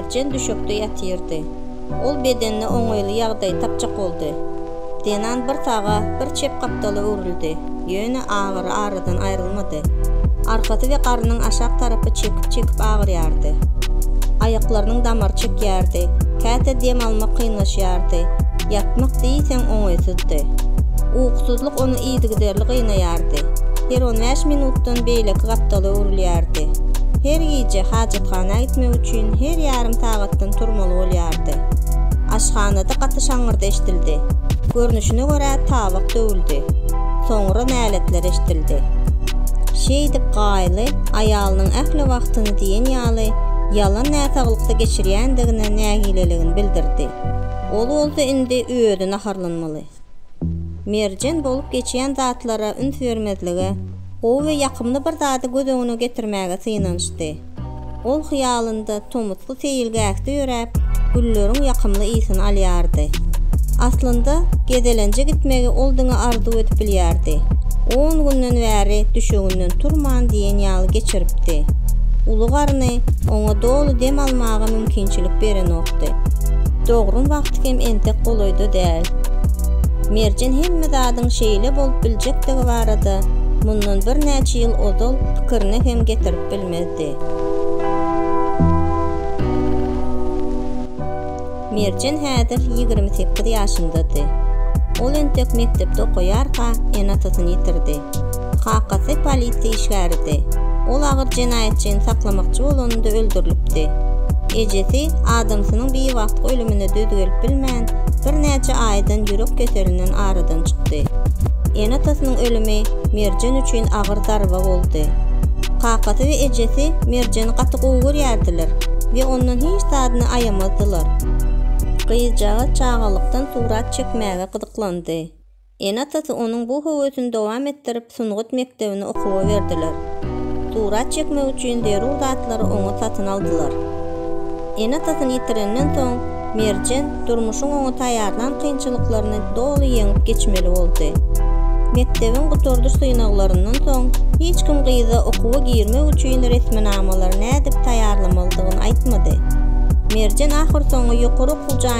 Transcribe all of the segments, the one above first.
Merjen düşekde ýatyrdy. Ol bedenine oňaýly ýagdaý tapjak boldy. Zenan bir saga, bir çep gapdala öwrüldi, ýöne agyry aradan aýrylmady. Arkasy we garnyň aşak tarapy çekip-çekip agyrýardy. Aýaklarynyň damary çekýärdi, käte dem almak kynlaşýardy, ýatmak diýseň oňaýsyzdy. Ukusyzlyk ony yzygiderli gynaýardy. Her on bäş minutdan beýleki gapdala öwrülýärdi. Her gije hajathana gitmek üçin her ýarym sagatdan turmaly bolýardy. Aşhanada gaty şaňňyrdy eşidildi. Görnüşine görä tabak döwüldi. Soňra näletler eşidildi. Şeýdip Gaýly aýalynyň ähli wagtyny diýen ýaly ýalan näsaglykda geçirýändigine nägileligini bildirdi. Ol bolsa indi özi naharlanmaly. Merjen bolup geçýän zatlara üns bermezlige, gowy we ýakymly bir zady göz öňüne getirmäge synanyşdy. Ol hyýalynda tomusky seýilgähde ýöräp, gülleriň ýakymly ysyny alýardy. Aslynda, gezelenje gitmegi ol diňe arzuw edip bilýärdi. On günden bäri düşeginden turman diýen ýaly geçiripdi. Uly garny oňa doly dem almaga mümkinçilik berenokdy. Dogrymy hem entek golaýda däl. Merjen hemme zadyň şeýle bolup biljekdigi barada mundan birnäçe ýyl ozal pikirine hem getirip bilmezdi. Merjen häzir ýigrimi sekiz ýaşyndady. Ol entek mekdepde okaýarka ene-atasyny ýitirdi. Kakasy polisiýa işgäridi. Ol agyr jenaýatçyny saklamakçy bolanynda öldürilipdi. Ejesi adamsynyň biwagtky ölümine döz gelip bilmän, birnäçe aýdan ýürek keselinden aradan çykdy. Ene-atasynyň ölümi Merjen üçin agyr zarba boldy. Kakasy we ejesi Merjeni gaty gowy görýärdiler we ondan hiç zadyny aýamazdylar. Gyzjagaz çagalykdan surat çekmäge gyzyklandy. Ene-atasy onuň bu höwesini dowam etdirip, sungat mekdebine okuwa berdiler. Surat çekmek üçin zerur zatlary oňa satyn aldylar. Ene-atasyny ýitirenden soň, Merjen durmuşyň oňa taýýarlan kynçylyklaryny doly ýeňip geçmeli boldy. Mekdebiň gutardyş synaglaryndan soň, hiç kim gyza okuwa girmek üçin resminamalary nädip taýýarlamalydygyny aýtmady. Merjen ahyrsoňy ýokary okuw jaýyna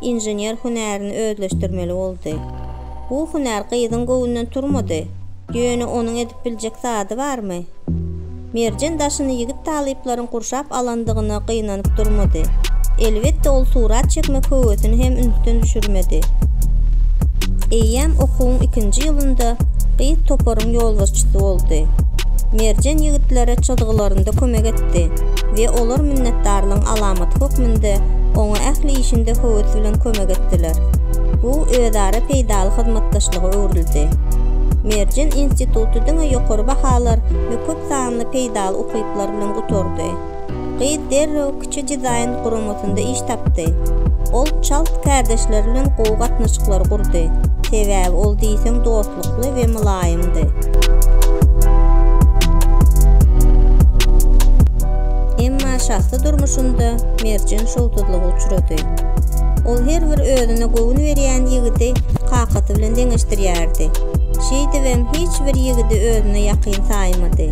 inžener hünärini özleşdirmeli boldy. Bu hünär gyzyň göwnünden turmady. Ýöne onuň edip biljek zady barmy? Merjen daşyny ýigit talyplaryň gurşap alandygyna gynanyp durmady. Elbetde, ol surat çekmek höwesini hem ünsden düşürmedi. Eýýäm okuwyň ikinji ýylynda gyz toparyň ýolbaşçysy boldy. Merjen ýigitlere çyzgylarynda kömek etdi we olar minnetdarlygyň alamaty hökmünde oňa Ýurtda ähli işinde höwes bilen kömek etdiler. Bu özara peýdaly hyzmatdaşlyga öwrüldi. Merjen instituty diňe ýokary bahalar we köp sanly peýdaly ukyplar bilen gutardy. Gyz derrew kiçi dizaýn guramasynda iş tapdy. Ol çalt kärdeşleri bilen gowy gatnaşyklary gurdy, sebäbi ol diýseň dosty. Ýumşaklyklykly we mylaýymdy. Emma şahsy durmuşynda Merjen şowsuzlyga uçrady. Ol her bir özüne göwün berýän ýigidi kakasy bilen deňeşdirýärdi. Şeýdibem hiç bir ýigidi özüne ýakyn saýmady.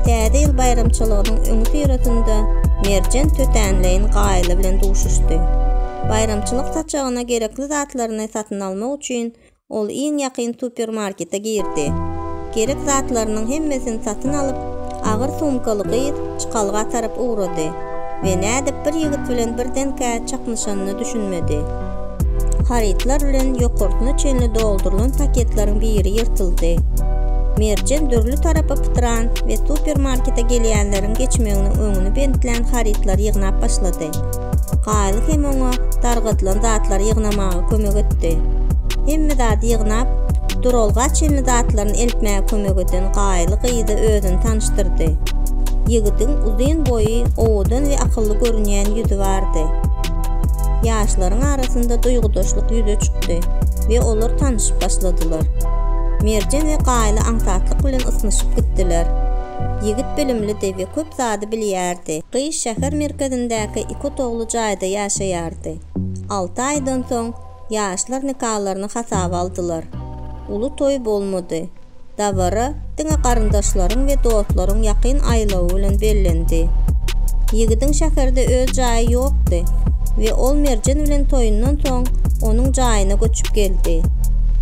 Täze ýyl baýramçylygynyň öňüsyrasynda Merjen tötänleýin Gaýly bilen duşuşdy. Baýramçylyk saçagyna gerekli zatlaryny satyn almak üçin Ol iň ýakyn supermarkete girdi. Gerek zatlarynyň hemmesini satyn alyp, agyr sumkaly gyz çykalga tarap ugrady we nädip bir ýigit bilen birdenkä çaknyşanyna düşünmedi. Harytlar bilen ýokarsyna çenli doldurylan paketleriň biri ýyrtyldy. Merjen dürli tarapa pytran we supermarkete gelýänleriň geçmeginiň öňüni bentlän harytlary ýygnap başlady. Gaýly hem oňa dargadylan zatlary ýygnamaga kömek etdi. Hemme zady ýygnap, duralga çenli zatlaryny eltmäge kömek eden Gaýly gyza özüni tanyşdyrdy. Ýigidiň uzyn boýy, owadan we akylly görünýän ýüzi bardy. Ýaşlaryň arasynda duýgudaşlyk ýüze çykdy we olar tanyşyp başladylar. Merjen we Gaýly aňsatlyk bilen ysnyşyp gitdiler. Ýigit bilimlidi we köp zady bilýärdi. Gyz şäher merkezindäki iki otagly jaýda ýaşaýardy. Alty aýdan soň ýaşlar nikalaryny hasaba aldylar. Uly toý bolmady. Dabara diňe garyndaşlaryň we dostlaryň ýakyn aýlawy bilen bellendi. Ýigidiň şäherde öz jaýy ýokdy we ol Merjen bilen toýundan soň onuň jaýyna göçüp geldi.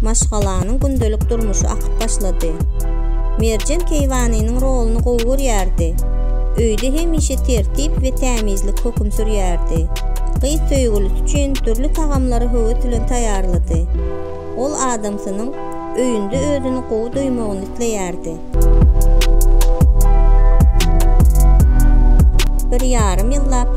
Maşgalanyň gündelik durmuşy akyp başlady. Merjen Keýwanynyň roluny gowy görýärdi. öýde hemişe tertip we tämizlik höküm sürýärdi. Gyz söýgülisi üçin dürli tagamlary höwes bilen taýýarlady. Ol adamsynyň öýünde özüni gowy duýmagyny isleýärdi. Bir ýarym ýyllap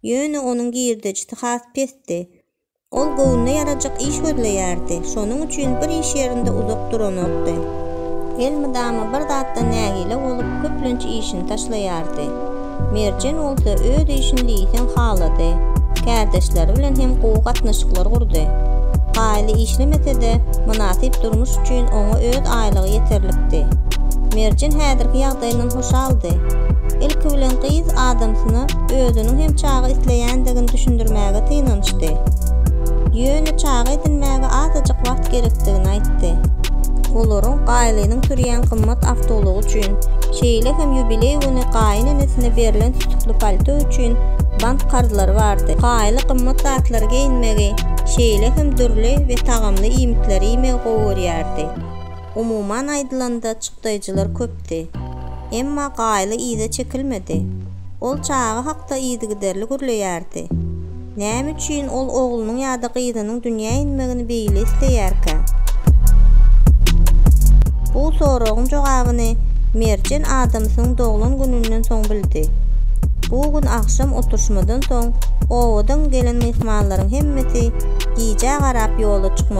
Ýöne onuň girdejisi has pesdi. Ol göwnüne ýarajak iş gözleýärdi, şonuň üçin bir iş ýerinde uzak duranokdy. Elmydama bir zatdan nägile bolup, köplenç işini taşlaýardy. Merjen bolsa öz işini diýseň halady. Kärdeşleri bilen hem gowy gatnaşyklar gurdy. Gaýly işlemese-de, mynasyp durmuş üçin oňa öz aýlygy ýeterlikdi. Merjen häzirki ýagdaýyndan şaldy. Ilki bilen gyz adamsyna özüniň hem çaga isleýändigini düşündirmäge synanyşdy. Ýöne çaga edinmäge azajyk wagt gerekdigini aýtdy. Olaryň Gaýlynyň sürýän gymmat awtoulagy üçin, şeýle hem ýubileý güni gaýyn enesine berlen sütükli palto üçin bank karzlary bardy. Gaýly gymmat zatlary geýinmegi, şeýle hem dürli we tagamly iýmitleri iýmegi gowy görýärdi. Umuman aýdylanda çykdaýjylar köpdi. Emma Gaýly yza çekilmedi. Ol çaga hakda yzygiderli gürleýärdi. Näme üçin ol oglunyň ýa-da gyzynyň dünýä inmegini beýle isleýärkä? Bu soragyň jogabyny Merjen adamsynyň doglan gününden soň bildi. Bu gün agşam oturyşmadan soň obadan gelen myhmanlaryň hemmesi gijä garap ýola çykmaly boldy.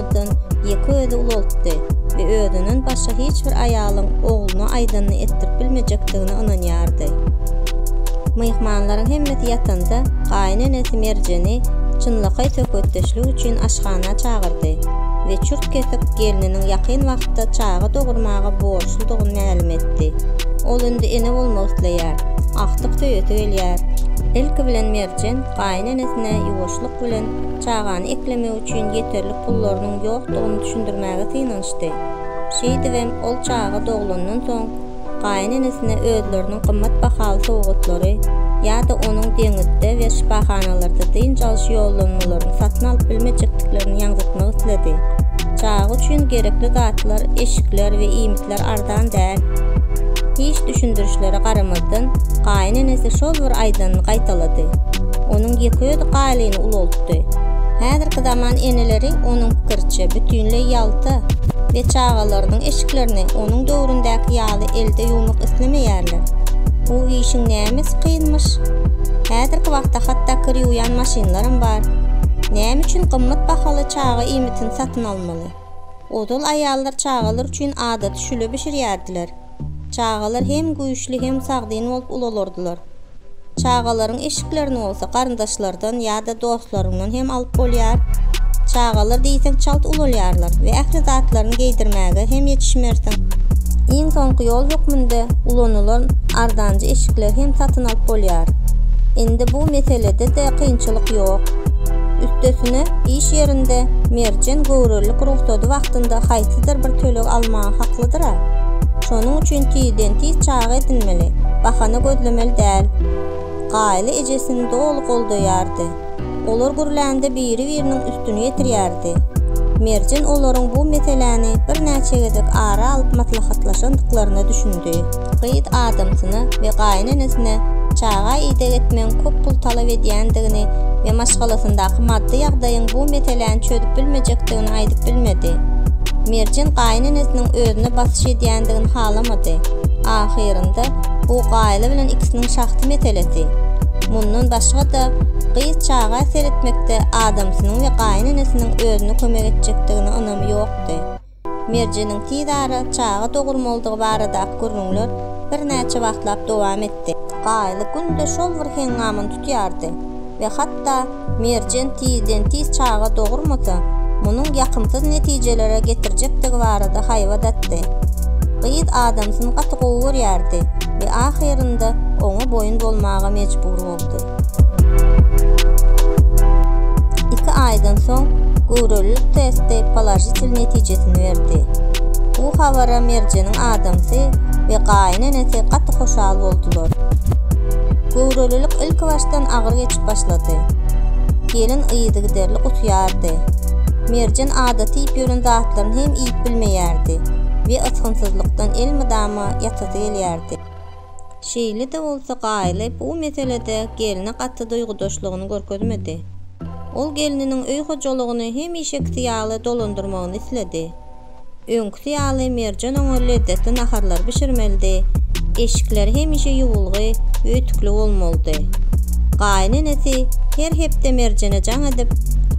aýakdan ýeke özi ulaltdy we özünden başga hiç bir aýalyň ogluna aýdanyny etdirip bilmejekdigine ynanýardy. Myhmanlaryň hemmesi ýatanda, gaýyn enesi Merjeni çynlakaý söhbetdeşlik üçin aşhana çagyrdy we çürt-kesik gelniniň ýakyn wagtda çaga dogurmaga borçludygyny mälim etdi. Ol indi ene bolmak isleýär, agtyk söýesi gelýär. Ilki bilen Merjen gaýyn enesine ýuwaşlyk bilen çagany eklemegi almak üçin ýeterlik pullarynyň ýokdugyny düşündirmäge synanyşdy. Şeýdibem, ol çaga doglandan soň, gaýynenesine özleriniň gymmat bahaly sowgatlary ýa-da onuň deňizde we şypahanalarda dynç alyş ýollanmalaryny satyn alyp bilmejekdiklerini ýaňzytmak isledi. Çaga üçin gerekli zatlar eşikler we iýmitdi. şertler arzan däl. Hiç düşündirişlere garamazdan, gaýyn enesi şol bir aýdanyny gaýtalady. Onuň ýekeözi Galyny ulaltdy. Häzirki zaman eneleri, onuň pikiriçe, bütinleý ýalta we çagalarynyň eşiklerini onuň döwründäki ýaly elde ýuwmak islemeýärler. Bu işiň nämesi kynmyş? Häzirki wagtda hatda kir ýuwýan maşynlaram bar. Näme üçin gymmat bahaly çaga iýmitini satyn almaly? Ozal aýallar çagalar üçin adaty şüle bişirýärdiler. Çagalar hem güýçli hem sagdyn bolup ulalardylar. Çagalaryň eşiklerini bolsa garyndaşlardan ýa-da dostlaryňdan hem alyp bolýar. Çagalar diýseň çalt ulalýarlar we ähli zatlaryny geýdirmäge hem ýetişmersiň. Iň soňky ýol hökmünde ulanylan arzanjy eşikleri hem satyn alyp bolýar. Indi bu meselede-de kynçylyk ýok. Üstesine, iş ýerinde Merjen göwrelilik rugsady wagtynda haýsydyr bir töleg almaga haklydyr-a. Şonuň üçin tizden-tiz çaga edinmeli, bahana gözlemeli däl. Gaýly ejesini doly goldaýardy. Olar gürlände biri-biriniň üstüni ýetirýärdi. Merjen olaryň bu meseläni birnäçe gezek ara alyp maslahatlaşandyklaryna düşündi. gyz adamsyna we gaýynenesine çaga ideg etmegiň köp pul talap edýändigini we maşgalasyndaky maddy ýagdaýyň bu meseläni çözüp bilmejekdigini aýdyp bilmedi. Merjen gaýynenesiniň özüne basyş edýändigini halamady. Ahyrynda, bu Gaýla bilen ikisiniň şahsy meselesi. Mundan başga-da, gyz çaga seretmekde adamsynyň we gaýynenesiniň özüne kömek etjekdigine ynamy ýokdy. Merjeniň tiz ara çaga dogurmalydygy baradaky gürrüňler birnäçe wagtlap dowam etdi. Gaýly günde şol bir heňňamyny tutýardy we hatda Merjen tizden-tiz çaga dogurmasa, munuň ýakymsyz netijelere getirjekdigi barada haýbat atdy. Gyz adamsyny gaty gowy görýärdi we ahyrynda oňa boýun bolmaga mejbur boldy. boldy. Iki aýdan soň göwrelilik testi položitel netijesini berdi. Bu habara Merjeniň adamsy we gaýyn enesi gaty hoşal boldular. Göwrelilik ilkibaşdan agyr geçip başlady. Gelin yzygiderli gusýardy. Merjen adaty iýip ýören zatlaryny hem iýip bilmeýärdi we ysgynsyzlykdan elmydama ýatasy gelýärdi. Şeýle-de bolsa Gaýly bu meselede gelne gaty duýgudaşlygyny görkezmedi. Ol gelniniň öý hojalygyny hemişekisi ýaly dolandyrmagyny isledi. Öňküsi ýaly Merjen oňa lezzetli naharlar bişirmelidi, eşikler hemişe ýuwulgy we ütükli bolmalydy. Gaýynenesi her hepde Merjene jaň edip,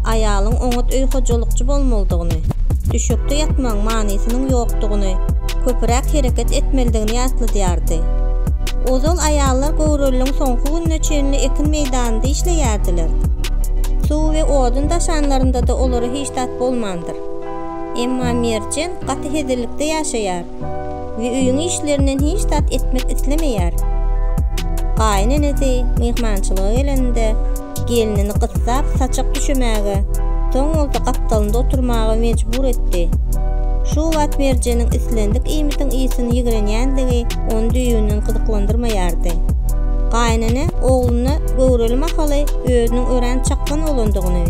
aýalyň oňat öý hojalykçy bolmalydygyny, düşekde ýatmagyň manysynyň ýokdugyny, köpüräk hereket etmelidigini ýatladýardy. Ozal aýallar göwreliligiň soňky gününe çenli ekin meýdanynda işleýärdiler. Suw we odun daşanlarynda-da olara hiç zat bolmandyr. Emma Merjen gaty hezillikde ýaşaýar we öýüň işlerinden hiç zat etmek islemeýär. Gaýyn enesi myhmançylyga gelende, gelnini gyssap saçak düşemäge, soň bolsa gapdalynda oturmaga mejbur etdi. Şu wagt Merjeniň islendik iýmitiň ysyny ýigrenýändigi ony düýbünden gyzyklandyrmaýardy. Gaýynene ogluna göwreli mahaly özüniň örän çakgan oglandygyny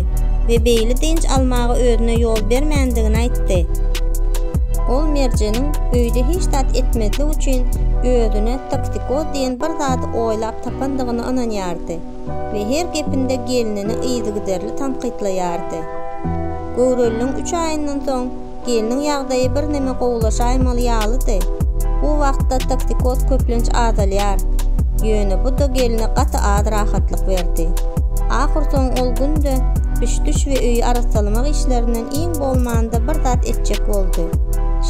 we beýle dynç almaga özüne ýol bermändigini aýtdy. Ol Merjeniň öýde hiç zat etmezlik üçin özüne toksikoz diýen bir zady oýlap tapandygyna ynanýardy. we her gepinde gelnini yzygiderli tankytlaýardy. Göwreliligiň üç aýyndan soň gelniň ýagdaýy birneme gowulaşaýmaly ýalydy. Bu wagtda toksikoz köplenç azalýar, ýöne bu-da gelne gaty az rahatlyk berdi. Ahyrsoňy ol günde üç-düş we öýi arassalamak işlerinden Iň bolmanda bir zat etjek boldy.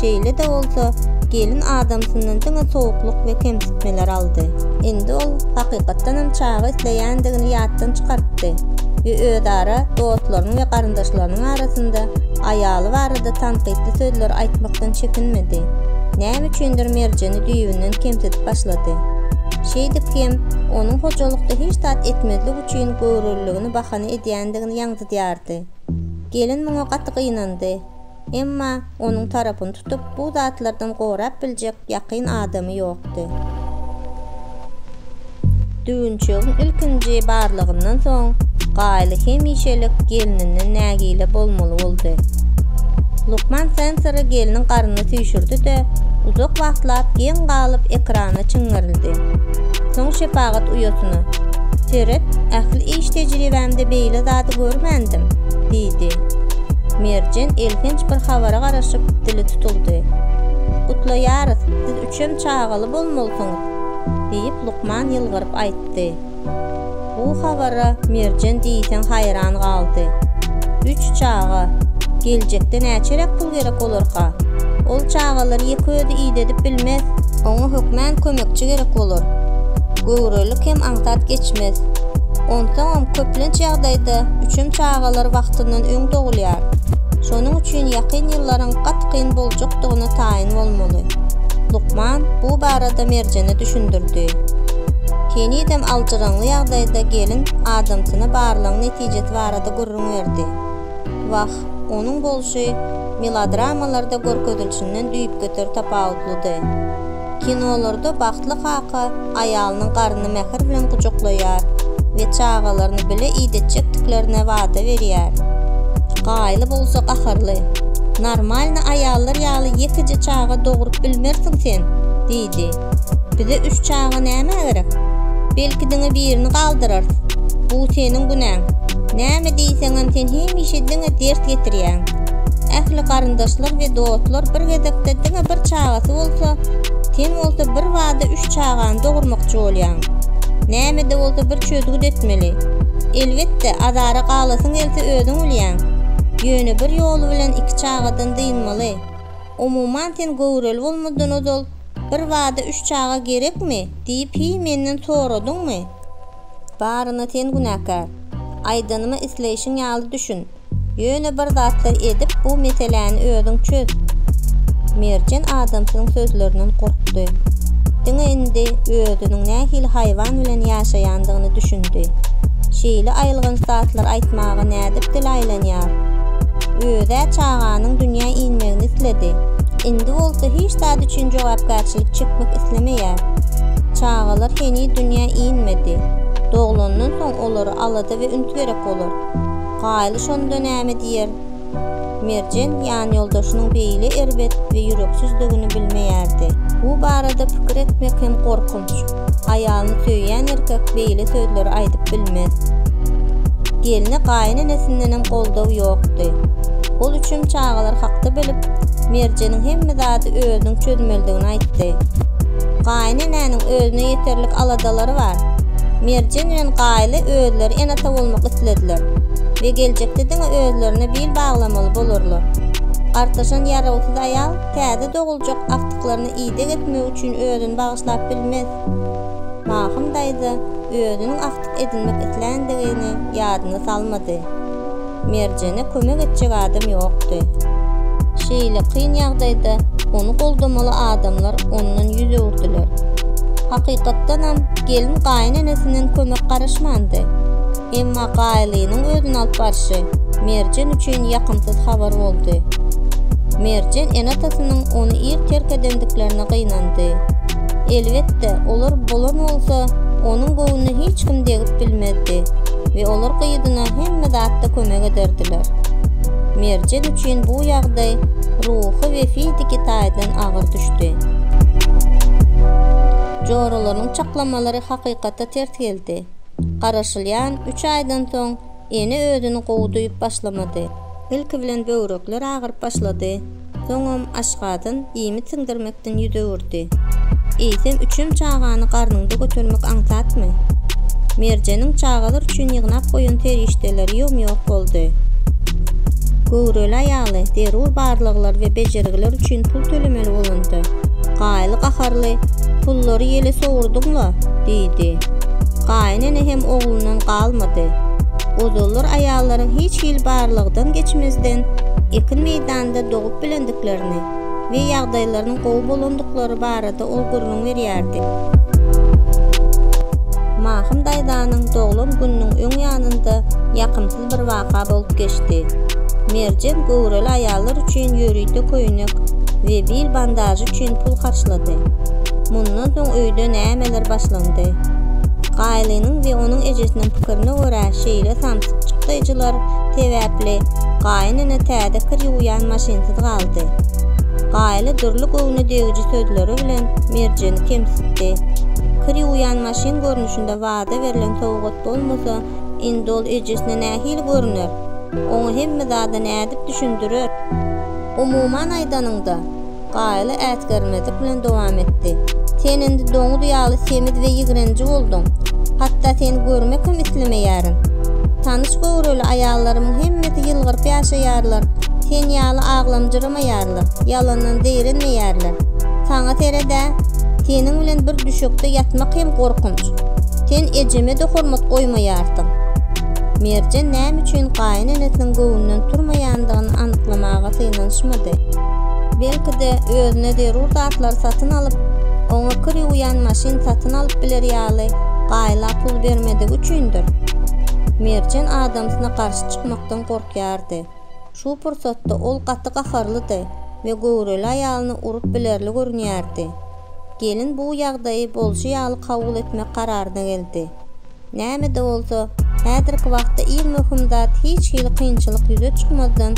Şeýle-de bolsa, gelin adamsyndan diňe sowuklyk we kemsitmeler aldy. Indi ol hakykatdanam çaga isleýändigini ýatdan çykartdy we özara dostlarynyň we garyndaşlarynyň arasynda aýaly barada tankytly sözleri aýtmakdan çekinmedi. Näme üçindir Merjeni düýbünden kemsidip başlady. Şeýdip hem, onuň hojalykda hiç zat etmezlik üçin göwreliligini bahana edýändigini ýaňzydýardy. Gelin muňa gaty gynandy. Emma onuň tarapyny tutup, bu zatlardan gorap biljek ýakyn adamy ýokdy. Düwünçegiň ilkinji barlygyndan soň Gaýly hemişelik gelninden nägile bolmaly boldy. Lukman sensory gelniň garnyna süýşürdi-de, uzak wagtlap geň galyp ekrana çiňňerildi. Soň şepagat uýasyna, Seret, ähli Iş tejribämde beýle zady görmändim, diýdi. Merjen elhenç bir habara garaşyp, dili tutuldy. Gutlaýarys, siz üçem çagaly bolmalysyňyz, diýip, lukman ýylgyryp aýtdy. Bu habara Merjen diýseň haýran galdy. Üç çaga, geljekde näçeräk pul ýaşamak gerek bolarka. Ol çagalary ýeke özi idedip bilmez. Oňa hökmän kömekçi gerek bolar. Göwrelilik hem aňsat geçmez. Onsoňam, köplenç ýagdaýda üçem çagalar wagtyndan öň dogulýar. Şonuň üçin ýakyn ýyllaryň gaty kyn boljakdygyna taýyn bolmaly. Lukman bu barada Merjene düşündirdi. Henizem aljyraňly ýagdaýda gelin adamsyna barlagyň netijesi barada gürrüň berdi. Wah, onuň bolşy melodramalarda görkezilişinden düýpgöter tapawutlydy. Kinolarda bagtly kaka aýalynyň garnyny mähir bilen gujaklaýar we çagalaryny bile idetjekdiklerine wada berýär. Gaýly bolsa gaharly, Normalny aýallar ýaly ýekeje çaga dogrup bilmersiň sen! diýdi. Bize üç çaga nämä gerek? Belki diňe birini galdyrarys. Bu seniň günäň. Näme diýseňem sen hemişe diňe dert getirýäň. Ähli garyndaşlar we dostlar bir gezekde diňe bir çagasy bolsa, sen bolsa birbada üç çagany dogurmakçy bolýaň. Nämede bolsa bir çözgüt etmeli. Elbetde, azara galasyň gelse özüň bilýäň. Ýöne bir ýoly bilen iki çagadan dynmaly. Umuman sen göwreli bolmazdan ozal Bir bada üç çaga gerekmi? diýip hiý menden soradyňmy? Baryna sen günäkär. Aýdanyma isleýşiň ýaly düşün. Ýöne bir zatlar edip bu meseläni özüň çöz. Merjen adamsynyň sözlerinden gorkdy. Diňe indi özüniň nähili haýwan bilen ýaşaýandygyna düşündi. Şeýle aýylganç zatlar aýtmaga nädip dili aýlanýar? Özä çaganyň dünýä inmegini isledi. Indi bolsa hiç Zat üçin jogapkärçilik çekmek islemeýär. Çagalar heniz dünýä inmedi. Doglandan soň olara alada we üns gerek bolar. Gaýly şonda näme diýer? Merjen ýanýoldaşynyň beýle erbet we ýüreksizdigini bilmeýärdi. Bu barada pikir etmek hem gorkunç. Aýalyny söýýän erkek beýle sözleri aýdyp bilmez. Gelne gaýynenesindenem goldaw ýokdy. Ol üçem çagalar hakda bilip, Merjeniň hemme zady özüniň çözmelidigini aýtdy. Gaýynenäniň özüne ýeterlik aladalary bar. Merjen bilen Gaýly özleri ene-ata bolmak islediler we geljekde diňe özlerine bil baglamaly bolarlar. Gartaşan ýarawsyz aýal täze doguljak agtyklaryny Ideg etmek üçin özüni bagyşlap bilmez. Mahym daýza özüniň agtyk edinmek isländigini ýadyna salmady. Merjene kömek etjek adam ýokdy. Şeýle kyn ýagdaýda ony goldamaly adamlar ondan ýüz öwürdiler. Hakykatdanam, gelin gaýynenesinden kömek garaşmandy. Emma Gaýlynyň özüni alyp barşy Merjen üçin ýakymsyz habar boldy. Merjen ene-atasynyň ony ir terk edendiklerine gynandy. Elbetde, olar bolan bolsa, onuň göwnüne hiç kim degip bilmezdi we olar gyzyna hemme zatda kömek ederdiler. Merjen üçin bu ýagdaý ruhy we fiziki taýdan agyr düşdi. Joralarynyň çaklamalary hakykata ters geldi. Garaşylýan üç aýdan soň Ene özüni gowy duýup başlamady. Ilki bilen böwrekler agyryp başlady, soňam aşgazan iýmit siňdirmekden ýüz öwürdi. Eýsem üçem çagany garnyňda götermek aňsatmy? Merjeniň çagalar üçin ýygnap goýan serişdeleri ýom-ýok boldy. Göwreli aýaly zerur barlaglar we bejergiler üçin pul tölemeli bolanda, Gaýly gaharly, Pullary ýele sowurdyň-la! diýdi. Gaýyn ene hem oglundan galmady. Ozallar aýallaryň hiç hili barlagdan geçmezden ekin meýdanynda dogup bilendiklerini we ýagdaýlarynyň gowy bolandyklary barada ol gürrüň berýärdi. Mahym daýzanyň doglan gününiň öň ýanynda ýakymsyz Şeýle bir waka bolup geçdi. Merjen göwreli aýallar üçin ýörite köýnek we bil bandažy üçin pul harçlady. Mundan soň öýde nämeler başlandy? Gaýlynyň we onuň ejesiniň pikirine görä şeýle samsyk çykdaýjylar sebäpli gaýyn ene täze kir ýuwýan maşynsyz galdy. Gaýly dürli göwne degiji sözleri bilen Merjeni kemsitdi. Kir ýuwýan maşyn görnüşinde wada berlen sowgat bolmasa, Indi ol ejesine nähili görüner? Oňa hemme zady nädip düşündirer? Umuman aýdanyňda, Gaýly äsgermezlik bilen dowam etdi, Sen indi doňuz ýaly semiz we ýigrenji bolduň. Hatda seni görmek hem islemeýärin. Tanyş göwreli aýallarymyň hemmesi ýylgyryp ýaşaýarlar, sen ýaly aglamjyrym. ýalňyşmaýarlar, ýalandan zeýrenmeýärler. Saňa sered-ä, seniň bilen bir düşekde ýatmak hem gorkunç. Sen ejeme-de hormat goýmaýarsyň. Merjen näme üçin gaýynenesiniň göwnünden turmaýandygyny anyklamaga synanyşmady. Belki-de, özüne zerur zatlary satyn alyp, oňa kir ýuwýan maşyn satyn alyp biler ýaly gaýla pul bermedigi üçindir? Merjen adamsyna garşy çykmakdan gorkýardy. Şu pursatda ol gaty gaharlydy we göwreli aýalyny urup bilerli görünýärdi. Gelin bu ýagdaýy bolşy ýaly kabul etmek kararyna geldi. Näme-de bolsa, häzirki wagtda iň möhüm zat hiç hili kynçylyk ýüze çykmazdan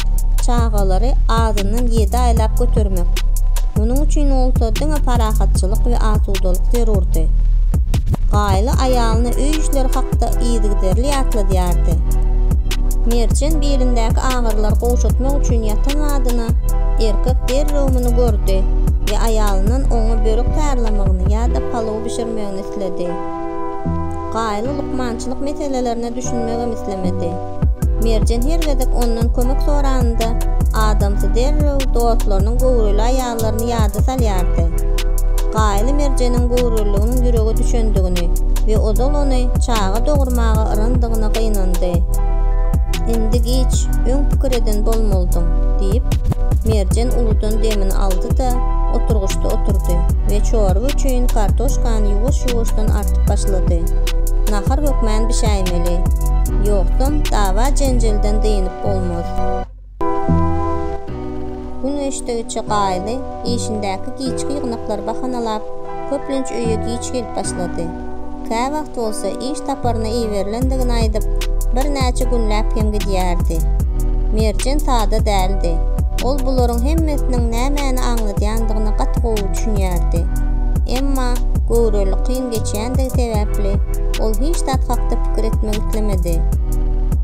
çagalary azyndan ýedi aýlap götermek. Munuň üçin bolsa diňe parahatçylyk we asudalyk zerurdy. Gaýly aýalyna öý işleri hakda yzygiderli ýatladýardy. Merjen belindäki agyrylar gowşatmak üçin ýatan zadyna erkek derrew muny gördi we aýalyndan oňa börek taýýarlamagyny ýa-da palaw bişirmegini isledi. Gaýly lukmançylyk meselelerine düşünmegem islemedi. Merjen her gezek ondan kömek soranynda adamsy derrew dostlarynyň göwreli aýalyna çagalaryny ýada salýardy. Gaýly Merjeniň göwreliliginiň ýürege düşendigini we ozal ony çaga dogurmaga yrandygyna gynandy. Indi giç, öň pikir eden bolmalydyň, diýip, Merjen uludan demini aldy-da, oturgyçda oturdy we çorba üçin kartoşkany ýuwaş-ýuwaşdan artyp başlady. Nahar hökmän bişäýmeli. Ýogsam, dawa-jenjelden dynyp bolmaz. Gün geçdigiçe Gaýly işindäki giçki ýygnaklary bahanalap, köplenç öýe giç gelip başlardy. Käwagt bolsa iş saparyna iberilendigini aýdyp, birnäçe günläp hem gidýärdi. Merjen sada däldi. Ol bularyň hemmesiniň nämäni aňladýandygyna gaty gowy düşünýärdi. Emma göwreli kyn ýaşynyň geçýändigi sebäpli, ol hiç zat hakda pikir etmek islemedi.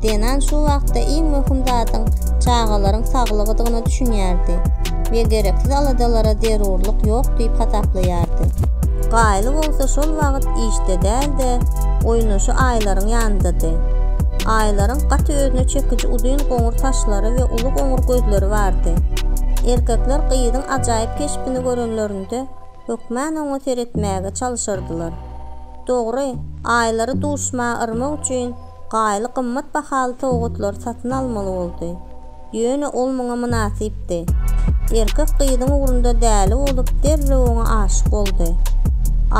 Zenan şu wagtda iň möhüm zadyň çagalaryň saglygydygyna düşünýärdi we gereksiz aladalara zerurlyk ýok diýip hasaplaýardy. Gaýly bolsa şol wagt işde däl-de, oýnaşy Aýlaryň ýanyndady. Aýlaryň gaty özüne çekiji uzyn goňur saçlary we uly goňur gözleri bardy. Erkekler gyzyň ajaýyp keşbini görenlerinde, hökmän oňa seretmäge çalyşardylar. Dogry, aýlary duşmaga yrmak üçin Gaýly gymmat bahaly sowgatlary satyn almaly boldy. Ýöne ol muňa mynasypdy. Erkek gyzyň ugrunda däli bolup derrew oňa aşyk boldy.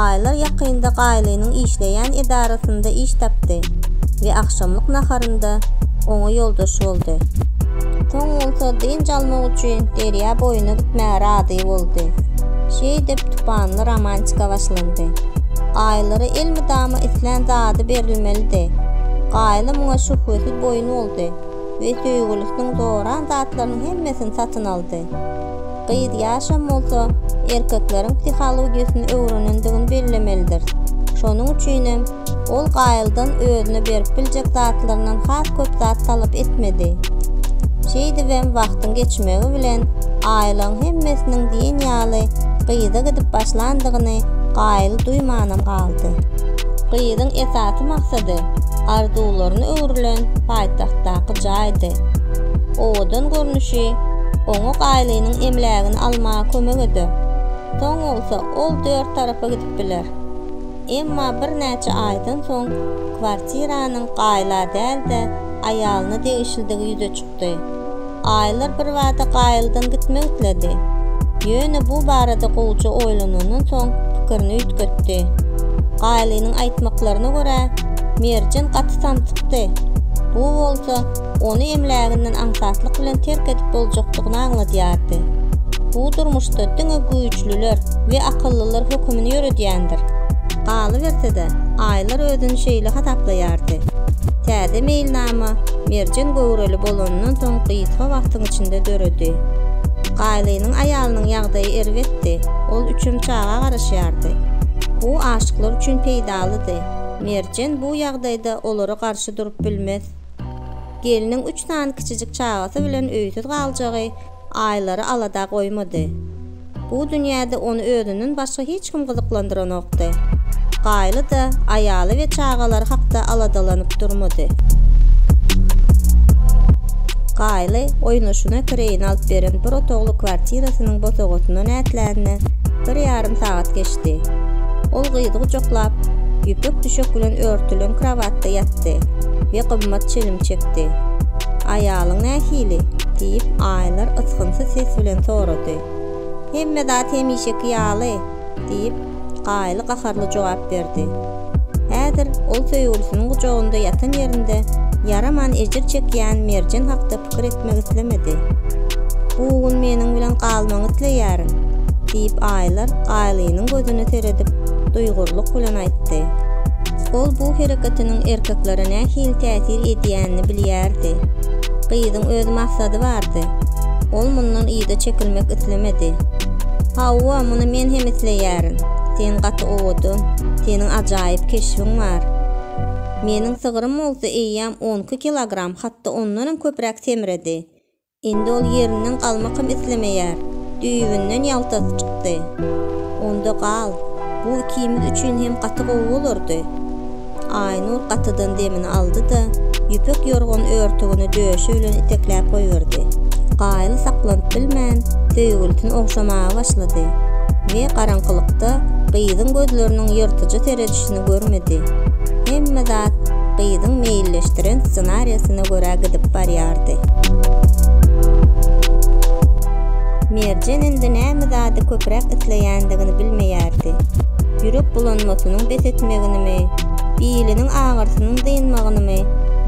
Aýlar ýakynda Gaýlynyň işleýän edarasynda iş tapdy we agşamlyk naharynda oňa ýoldaş boldy. Soň bolsa dynç almak üçin derýa boýuna gitmäge razy boldy. Şeýdip, tupanly romantika başlandy. Gaýylara elmydama islän zady berilmelidi. Gaýyly muňa şübhesiz boýun boldy we söýgülisiniň zoran zatlarynyň hemmesini satyn aldy. Gyz ýaşam bolsa, erkekleriň psihologiýasyny öwrenendigini bellemelidiris. Şonuň üçinem, Ol Gaýyldan özüne berip biljek zatlaryndan has köp zat talap etmedi. Şeýdibem wagtyň geçmegi bilen aýylygyň hemmesiniň diýen ýaly gyza gidip başlandygyny Gaýyl duýmanam galdy. Gyzyň esasy maksady arzuwlaryna öwrülen paýtagtdaky jaýdy. Owadan görnüşi oňa Gaýlynyň emlägini almaga kömek eder. Soň bolsa ol dört tarapa gidip biler. Emma birnäçe aýdan soň kwartiranyň Gaýla däl-de, aýalyna degişlidigi ýüze çykdy. Aýlar birbada Gaýyldan gitmek isledi. Ýöne bu barada gowuja oýlanandan soň pikirini üýtgetdi. Gaýlynyň aýtmaklaryna görä, Merjen gaty samsykdy. Bu bolsa ony emläginden aňsatlyk bilen terk edip boljakdygyny aňladýardy. Bu durmuşda diňe güýçlüler we akyllylar hökümini ýöredýändir. Galyberse-de, Aýlar özüni şeýle hasaplaýardy, Täze meýilnama Merjen göwreli bolanyndan soň gysga wagtyň içinde döredi. Gaýlynyň aýalynyň ýagdaýy erbetdi, ol üçem çaga garaşýardy. Bu aşyklar üçin peýdalydy. Merjen bu ýagdaýda olara garşy durup bilmez. Gelniň üç sany kiçijik çagasy bilen öýsüz galjagy Aýlary alada goýmady. Bu dünýäde ony özünden başga hiç kim gyzyklandyranokdy. Gaýly-da aýaly we çagalary hakda aladalanyp durmady. Gaýly oýnaşyna kireýine alyp beren bir otagly kwartirasynyň bosagasyndan ätlänine bir ýarym sagat geçdi. Ol gyzy gujaklap, ýüpek düşek bilen örtülen krowatda ýatda ýatdy we gymmat çilim çekdi. Aýalyň nähili? diýip, Aýlar ysgynsyz ses bilen sorady. Hemme zat hemişeki ýaly, diýip, Gaýly gaharly jogap berdi. Häzir ol söýgülisiniň gujagynda ýatan ýerinde ýaraman ejir çekýän Merjen hakda pikir etdi. gitmek islemedi. Bu gün meniň bilen galmagyňy isleýärin, diýip Aýlar Aýlynyň gözüne seredip duýgurlyk bilen aýtdy. Ol bu hereketiniň erkeklere nähili täsir edýänini bilýärdi. Gyzyň öz maksady bardy. Ol mundan yza çekilmek islemedi. Hawa, muny men hem isleýärin. Sen gaty owadan, seniň ajaýyp keşbiň bar. Meniň sygrym bolsa eýýäm on iki kilogram. Hatda ondanam köpräk semredi. Indi ol ýerinden galmakam islemeýär. Düýbünden ýaltasy çykdy. Onda gal, bu ikimiz üçin hem gaty gowy bolardy. Aýnur gatydan demini aldy-da, ýüpek ýorgan örtügini döşi bilen itekläp goýberdi. Gaýly saklanyp bilmän, söýgülisini ogşamaga başlady we garaňkylykda gyzyň gözleriniň ýyrtyjy seredişine ýaşap görmedi. Hemme zat gyzyň meýilleşdiren ssenariýasyna görä gidip barýardy. Merjen indi näme zady köpräk isleýändigini bilmeýärdi. Ýürek bulanmasynyň bes etmeginimi, biliniň agyrsynyň dynmagynymy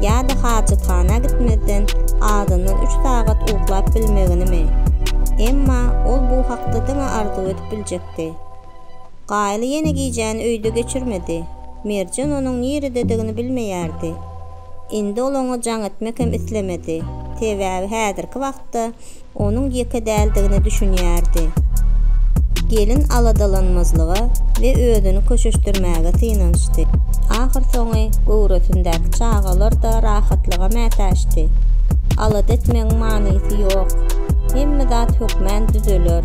ýa-da hajathana gitmezden azyndan üç sagat uklap bilmeginimi? Emma ol bu hakda diňe arzuw edip biljekdi. Gaýly ýene gijäni öýde geçirmedi. Merjen onuň nirededigini bilmeýärdi. Indi ol oňa jaň etmek hem islemedi. Sebäbi häzirki wagtda onuň ýeke däldigine düşünýärdi. Gelin aladalanmazlyga we özüni köşeşdirmäge synanyşdy. Ahyrsoňy göwresindäki çagalar-da rahatlyga mätäçdi. Alada etmegiň manysy ýok. Hemme zat hökmän düzeler.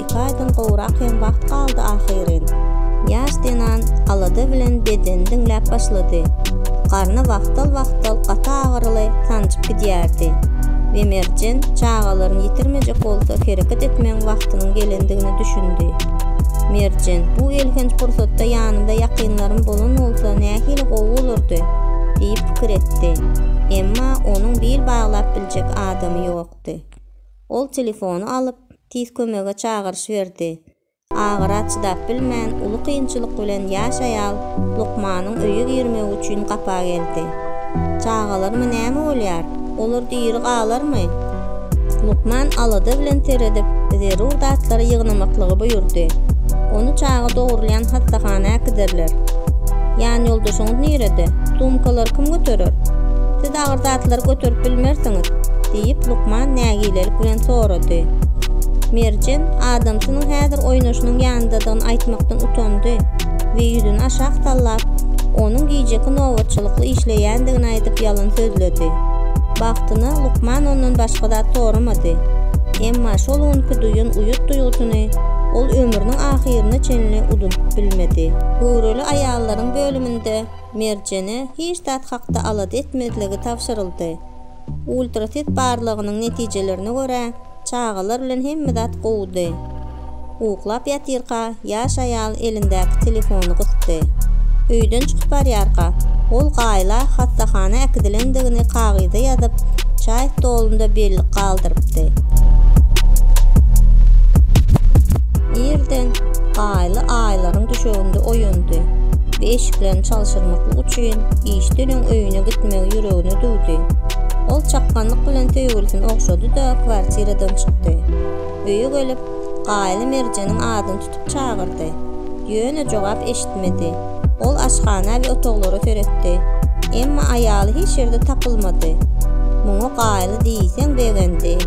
Ikaýdan gowrak hem wagt galdy ahyryn. Ýaş zenan alada bilen bedeni diňläp başlady. Garny wagtal-wagtal gaty agyryly sanjyp gidýärdi we Merjen çagalaryny ýitirmejek bolsa hereket etmegiň wagtynyň gelendigine düşündi. Merjen, bu elhenç pursatda ýanymda ýakynlarym bolan bolsa nähili gowy bolardy diýip pikir etdi. Emma onuň bil baglap biljek adamy ýokdy. Ol telefony alyp, tiz kömege çagyryş berdi. Agyra çydap bilmän, uly kynçylyk bilen ýaş aýal lukmanyň öýe girmegi üçin gapa geldi. Çagalaryma näme bolýar? Olar diri galarmy? Lukman alada bilen seredip, zerur zatlary ýygnamaklygy buýurdy. Ony çaga dogrulýan hassahana äkiderler. Ýanýoldaşyňyz nirede? Sumkalary kim göterer? Şeýle agyr zatlary göterip bilmersiňiz? diýip, lukman nägilelik bilen sorady. Merjen adamsynyň häzir oýnaşynyň ýanyndadygyny aýtmakdan utandy we ýüzüni aşak sallap, onuň gijeki nobatçylykly işleýändigini aýdyp ýalan sözledi. Bagtyna, lukman ondan başga zat soramady. Emma şol günki duýan uýat duýgusyny ol ömrüniň ahyryna çenli unudyp bilmedi. Göwreli aýallaryň bölüminde Merjene hiç zat hakda alada etmezligi tabşyryldy. Ultraset barlagynyň netijelerine görä, çagalar bilen hemme zat gowudy. Uklap ýatyrka, ýaş aýal elindäki telefony gysdy. Öýden çykyp barýarka, ol Gaýla hassahana äkidilendigini kagyza ýazyp, çaý stolunda bellik galdyrypdy. Irden Gaýla aýlaryň düşeginde oýandy. we eşiklerini çalşyrmaklyk üçin işden öň öýüne gitmegi ýüregine düwdi. Ol çakganlyk bilen söýgülisini ogşady-da, kwartiradan çykdy. Öýe gelip, Gaýly Merjeniň adyny tutup çagyrdy. Ýöne jogap eşitmedi. Ol aşhana we otaglara seretdi. Emma aýaly hiç ýerde tapylmady. Muňa Gaýly. ýaşdy diýseň begendi.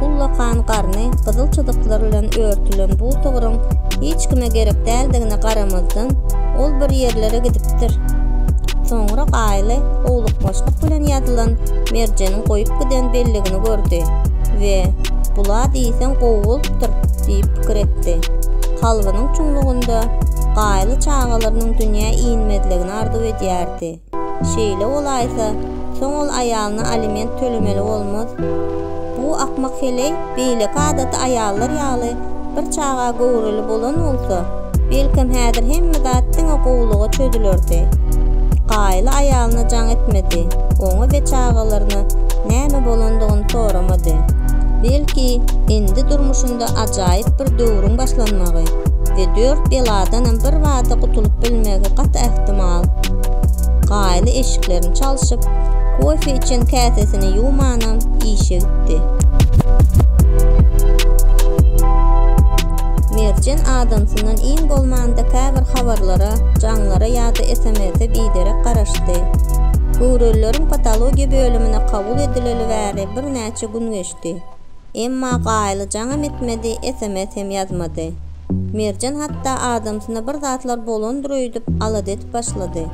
Ullakan garny gyzyl çyzyklar bilen örtülen bu tygryň hiç kime gerek däldigine garamazdan, ol bir ýerlere gidipdir. Soňra Gaýly howlukmaçlyk bilen ýazylan Merjeniň goýup giden belligini gördi we Bul-a diýseň gowy bolupdyr diýip pikir etdi. Kalbynyň çuňlugynda Gaýly çagalarynyň dünýä inmezligini arzuw edýärdi. Şeýle bolaýsa, soň ol aýalyna aliment tölemeli bolmaz. Bu akmak heleý beýleki adaty aýallar ýaly bir çaga göwreli bolan bolsa, belkem häzir hemme zat diňe gowulyga çözülerdi. Gaýyly aýalyna jaň etmedi, oňa we çagalaryna näme bolandygyny soramady. Belki, indi durmuşynda bolsa ajaýyp bir döwrüň başlanmagy we dört beladanam birbada gutulyp bilmegi gaty ähtimal. Gaýly eşiklerini çalşyp, kofe içen käsesini ýuwmanam işe gitdi. Merjen adamsyndan iň bolmanda käbir habarlara, jaňlara ýa-da SMS-e biderek garaşdy. Göwrelileriň patologiýa bölümine kabul edileli bäri birnäçe gün geçdi. Emma Gaýyl jaňam etmedi, sms hem ýazmady. Merjen hatda adamsyna bir zatlar bolandyr öýdüp alada edip başlady.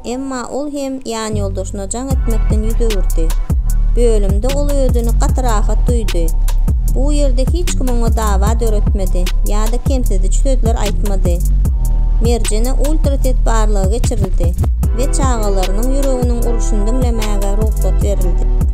Emma ol hem ýanýoldaşyna jaň etmekden ýüz öwürdi. Bölümde ol özüni gaty rahat duýdy. Bu ýerde hiç kim oňa dawa döretmedi ýa-da kemsidiş sözler aýtmady. Merjene ultraset barlagy geçirildi we çagalarynyň ýüreginiň uruşyny diňlemäge rugsat berildi.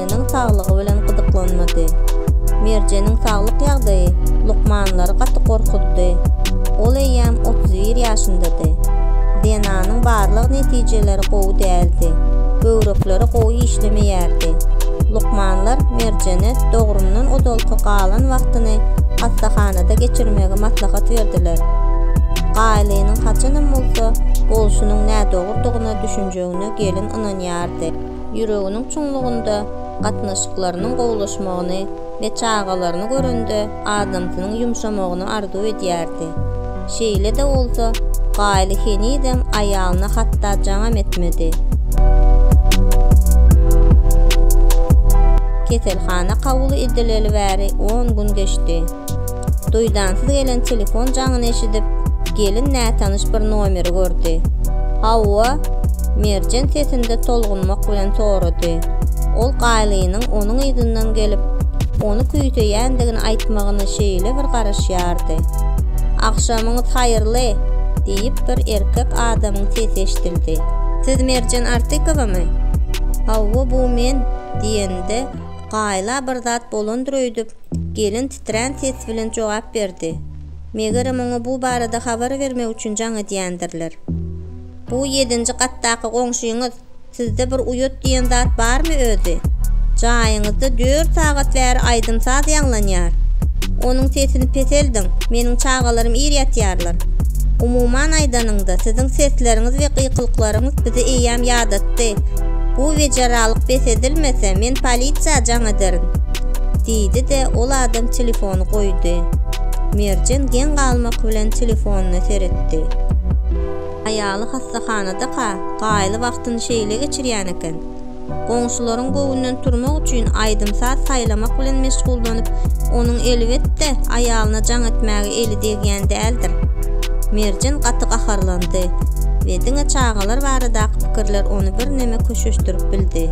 Merjeniň saglygy bilen gyzyklanmady. Merjeniň saglyk ýagdaýy lukmanlary gaty gorkuzdy. Ol eýýäm otuz bir ýaşyndady. DNA-nyň barlag netijeleri gowy däldi. Böwrekleri gowy işlemeýärdi. Lukmanlar Merjene dogrumdan ozalky galan wagtyny hassahanada geçirmegi maslahat berdiler. Gaýlynyň haçanam bolsa bolşunyň nädogrudygyna düşünjegine gelin ynanýardy. ýüreginiň çuňlugynda gatnaşyklarynyň gowulaşmagyny we çagalaryny görende adamsynyň ýumşamagyny arzuw edýärdi. Şeýle-de bolsa, Gaýly henizem aýalyna hatda jaňam etmedi. Keselhana kabul edileli bäri on gün geçdi. Duýdansyz gelen telefon jaňyny eşidip, gelin nätanyş bir nomeri gördi. Hawa? Merjen sesinde tolgunmak bilen sorady. Ol Gaýlynyň onuň yzyndan gelip, ony küýseýändigini aýtmagyna şeýle bir garaşýardy. Agşamyňyz haýyrly! diýip bir erkek adamyň sesi eşidildi. Siz Merjen Artykowamy? Hawa, bu men, diýende, Gaýla bir zat bolandyr öýdüp, Gelin titrän ses bilen jogap berdi, Megerem oňa bu barada habar bermek üçin jaň edýändirler. Bu ýedinji gatdaky goňşyňyz, sizde bir uýat diýen zat barmy özi? Jaýyňyzda dört sagat bäri aýdym-saz ýaňlanýar. Onuň sesini peseldiň, meniň çagalarym ir ýatýarlar. Umuman aýdanyňda, siziň sesleriňiz we gykylyklaryňyz bizi eýýäm ýadatdy. Bu wejeralyk bes edilmese, men polisiýa jaň ederin. Diýdi-de, ol adam telefony goýdy. Merjen geň galmak bilen telefonyna seretdi. Aýaly hassahanada-ka, gaýly wagtyny şeýle geçirýän eken. Goňşularyň göwnünden turmak üçin aýdym-saz saýlamak bilen meşgullanyp, onuň elbetde, aýalyna jaň etmäge eli degýän däldir. Merjen gaty gaharlandy we diňe çagalar baradaky pikirler ony birneme köşeşdirip bildi.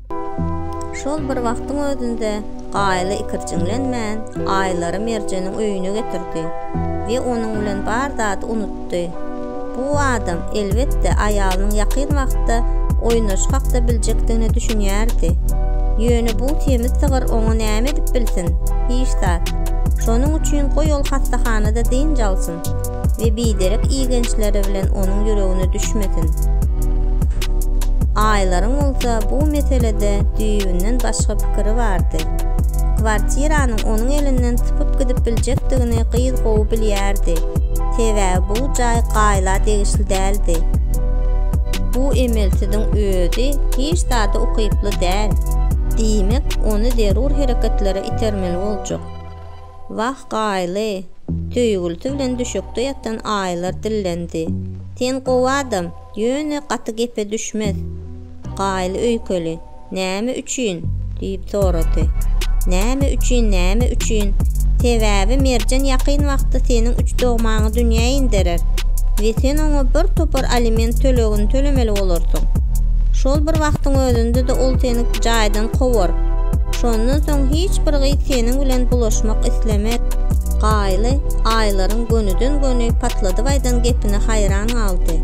Şol bir wagtyň özünde Gaýly ikirjiňlenmän Aýlary Merjeniň öýüne getirdi we onuň bilen bar zady unutdy. Bu adam, elbetde, aýalynyň ýakyn wagtda oýnaşy hakda biljekdigine düşünýärdi. Ýöne bu semiz sygyr oňa näme edip bilsin? Hiç zat. Şonuň üçin goý ol hassahanada dynç alsyn. we biderek igençleri bilen onuň ýüregine düşmesin. Aýlaryň bolsa bu meselede düýbünden başga pikiri bardy. Kwartiranyň onuň elinden sypyp gidip biljekdigini gyz gowy bilýärdi, sebäbi bu jaý Gaýla degişli däldi. Bu emelsiziň özi hiç zada ukyply däl. Diýmek, ony zerur hereketlere itermeli boljak. Wah, Gaýly! söýgülisi bilen düşekde ýatan aýylar dillendi. Sen gowy adam, ýöne gaty gepe düşmez. Gaýly öýkeli, Näme üçin? diýip sorady. Näme üçin, näme üçin? Sebäbi Merjen ýakyn wagtda seniň üç dogmaňy dünýä inderer we sen oňa bir topar aliment tölegini tölemeli bolarsyň. Şol bir wagtyň özünde-de ol seni jaýdan kowar. Şondan soň hiç bir gyz seniň bilen bulaşmak islemez. Gaýly Aýlaryň gönüden-göni patladyp aýdan gepine haýran galdy.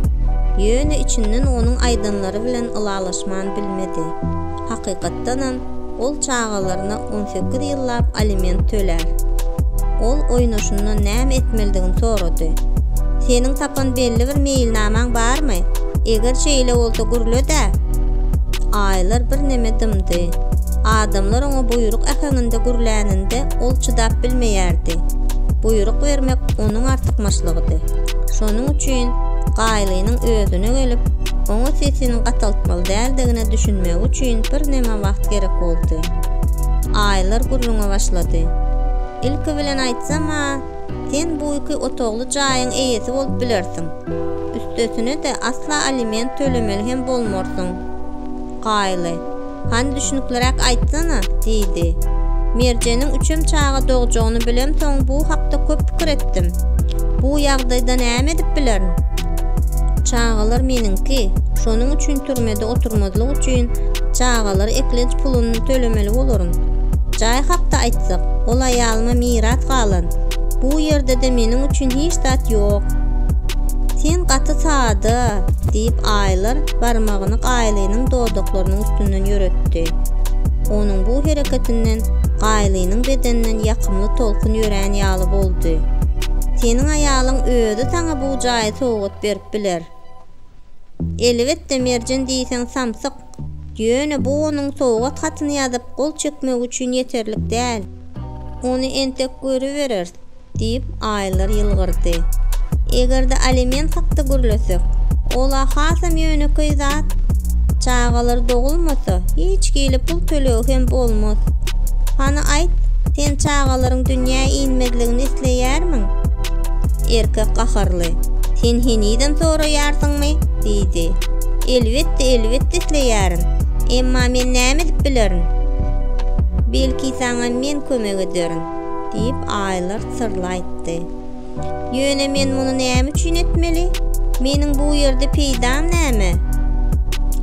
Ýöne içinden onuň aýdanlary bilen ylalaşman bilmedi. Hakykatdanam, ol çagalaryna on sekiz ýyllap aliment tölär. Ol oýnaşyndan näme etmelidigini sorady. Seniň hakdan belli bir meýilnamaň barmy? Eger şeýle bolsa gürle-dä? Aýlar birneme dymdy. Adamlar oňa buýruk äheňinde gürläninde ol çydap bilmeýärdi. Buýruk bermek onuň artykmaçlygydy. Şonuň üçin Gaýlynyň özüne gelip, oňa sesini gataltmaly däldigine düşünmegi üçin birneme wagt gerek boldy. Aýlar gürrüňe başlady. Ilki bilen aýtsam-a, Sen bu iki otagly jaýyň eýesi bolup bilersiň. Üstesine-de asla aliment tölemeli hem bolmarsyň. Gaýly, hany düşnükliräk aýtsana? diýdi. Merjeniň üçem çaga dogjagyny bilemsoň bu hakda köp pikir etdim. Bu ýagdaýda näme edip bilerin? Çagalar meniňki, şonuň üçin türmede mekdepde oturmazlyk üçin çagalar eklenç puluny tölemeli bolaryn. Jaý hakda aýtsak, ol aýalyma miras galan. Bu ýerde-de meniň üçin hiç zat ýok. Sen gaty sada, diýip Aýlar barmagyny Gaýlynyň dodaklarynyň üstünden ýöretdi. Onuň bu hereketinden Gaýlynyň bedeninden ýakymly tolkun ýörän ýaly boldy. Seniň aýalyň özi saňa bu jaýy sowgat berip biler. Elbetde Merjen diýseň samsyk. Ýöne bu onuň sowgat hatyny ýazyp gol çekmegi üçin ýeterlik däl. Ony entek görübereris, diýip, Aýlar ýylgyrdy. Eger-de aliment hakda gürlesek, ol-a hasam ýönekeý zat. Çagalar dogulmasa, hiç hili pul tölegi hem bolmaz. Hany aýt, sen çagalaryň dünýä inmezligini isleýärmiň? Erkek gaharly, Sen henizem soraýarsyňmy? diýdi. Elbetde, elbetde isleýärin. Emma men näme edip bilerin? Belki saňa men kömek ederin, diýip, aýlar syrly aýtdy. Ýöne men muny näme üçin etmeli? Meniň bu ýerde peýdam näme?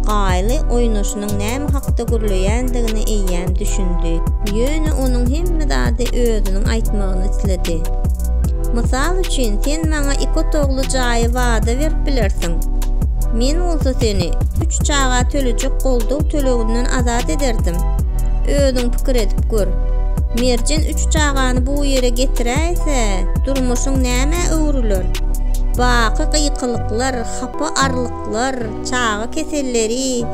Gaýly oýnaşyna onuň näme hakda gürleýändigini eýýäm düşündi. Ýöne onuň hemme zady özüniň aýtmagyny isledi. Mysal üçin, sen maňa iki otagly jaýy wada berip bilersiň. Men bolsa seni üç çaga tölejek goldaw töleginden azat ederdim. Özüň pikir edip gör. Merjen üç çagany bu ýere getiräýse, durmuşyň nämä öwrüler? Baky gykylyklar, hapa arlyklar. çaga keselleri,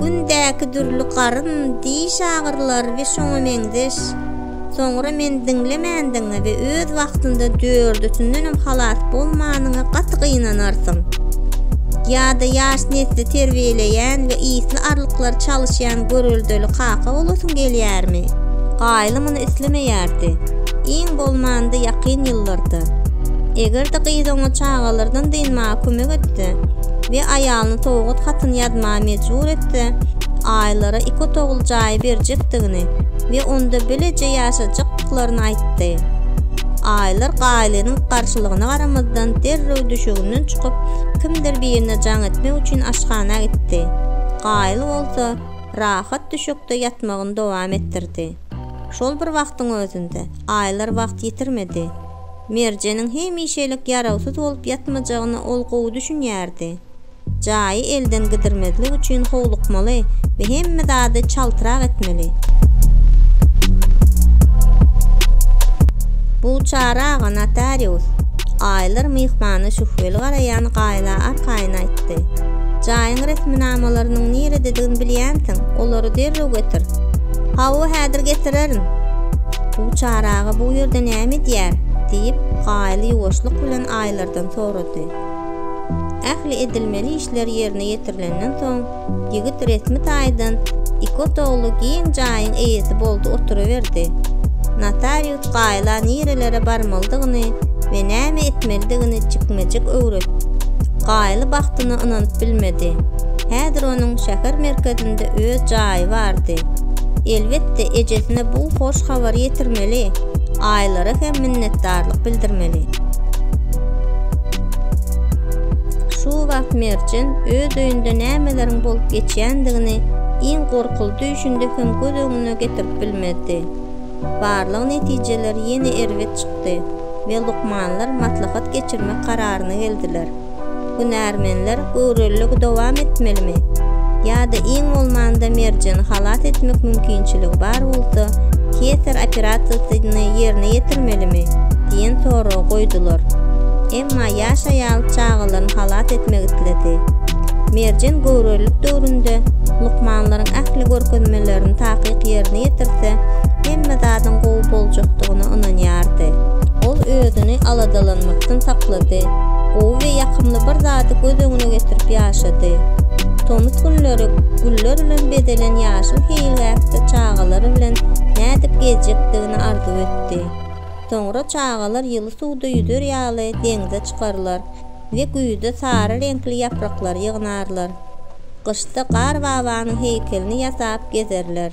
gündäki dürli garyn, diş agyrylar we şoňa meňzeş, soňra meni diňlemändigiňe we öz wagtynda dördüsindenem halas bolmanyňa gaty gynanarsyň. Ýa-da ýaş nesli terbiýeleýän we ysly arlyklary çalyşýan göreldeli kaka bolasyň gelýärmi? Gaýly muny islemeýärdi, iň bolmanda ýakyn ýyllarda. Eger-de gyz oňa çagalardan dynmaga kömek etse, we aýalyny sowgat hatyny ýazmaga mejbur etse, Aýlara iki otagly jaýy berjekdigini we onda bileje ýaşajakdyklaryny aýtdy. Aýlar Gaýlynyň garşylygyna garamazdan derrew düşeginden çykyp, kimdir birine jaň etmek üçin aşhana gitdi. Gaýly bolsa, rahat düşekde ýatmagyny dowam etdirdi. Şol bir wagtyň özünde, Aýlar wagt ýitirmedi. Merjeniň hemişelik ýarawsyz bolup ýatmajagyna ol gowy düşünýärdi. Jaýy elden gidirmezlik üçin howlukmaly we hemme zady çaltrak etmeli. Bu Çary aga notarius, Aýlar myhmana şübheli garaýan Gaýla arkaýyn aýtdy. Jaýyň resminamalarynyň nirededigini bilýänsiň, olary derrew getir. Hawa, häzir getirerin. Bu Çary aga bu ýerde näme edýär? diýip, Gaýly ýuwaşlyk bilen Aýlardan sorady. Ähli edilmeli işler ýerine ýetirilenden soň, ýigit resmi taýdan iki otagly giň jaýyň eýesi boldy oturyberdi. Notarius Gaýla nirelere barmalydygyny we näme etmelidigini jikme-jik öwret. Gaýly bagtyna ynanyp bilmedi. Häzir onuň şäher merkezinde öz jaýy bardy. Elbet, Elbetde, ejesine bu hoş habary ýetirmeli, aýylara hem minnetdarlyk bildirmeli. Şu wagt Merjen öz öýünde nämeleriň bolup geçýändigini iň gorkuly düýşünde hem göz öňüne getirip bilmezdi. Barlag netijeleri ýene erbet çykdy we lukmanlar maslahat geçirmek kararyna geldiler. Hünärmenler göwreliligi dowam etmelimi? Ýa-da iň bolmanda merjeni halas etmek mümkinçiligi bar bolsa, keýser operasiýasyny ýerine ýetirmelimi? diýen soragy goýdular. Emma ýaş aýal çagalaryny halas etmek isledi. Merjen göwrelilik döwründe lukmanlaryň ähli görkezmelerini takyk ýerine ýetirse, hemme zadyň gowy boljakdygyna ynanýardy. Ol özüni aladalanmakdan saklady. gowy we ýakymly bir zady göz öňüne getirip ýaşady. Tomus günleri güller bilen bezelen ýaşyl seýilgähde çagalary bilen nädip gezjekdigini arzuw etdi. Soňra çagalar ýyly suwda ýüzer ýaly deňze çykarlar we güýzde sary reňkli ýapraklary ýygnarlar. Gyşda Gar babanyň heýkelini ýasap gezerler.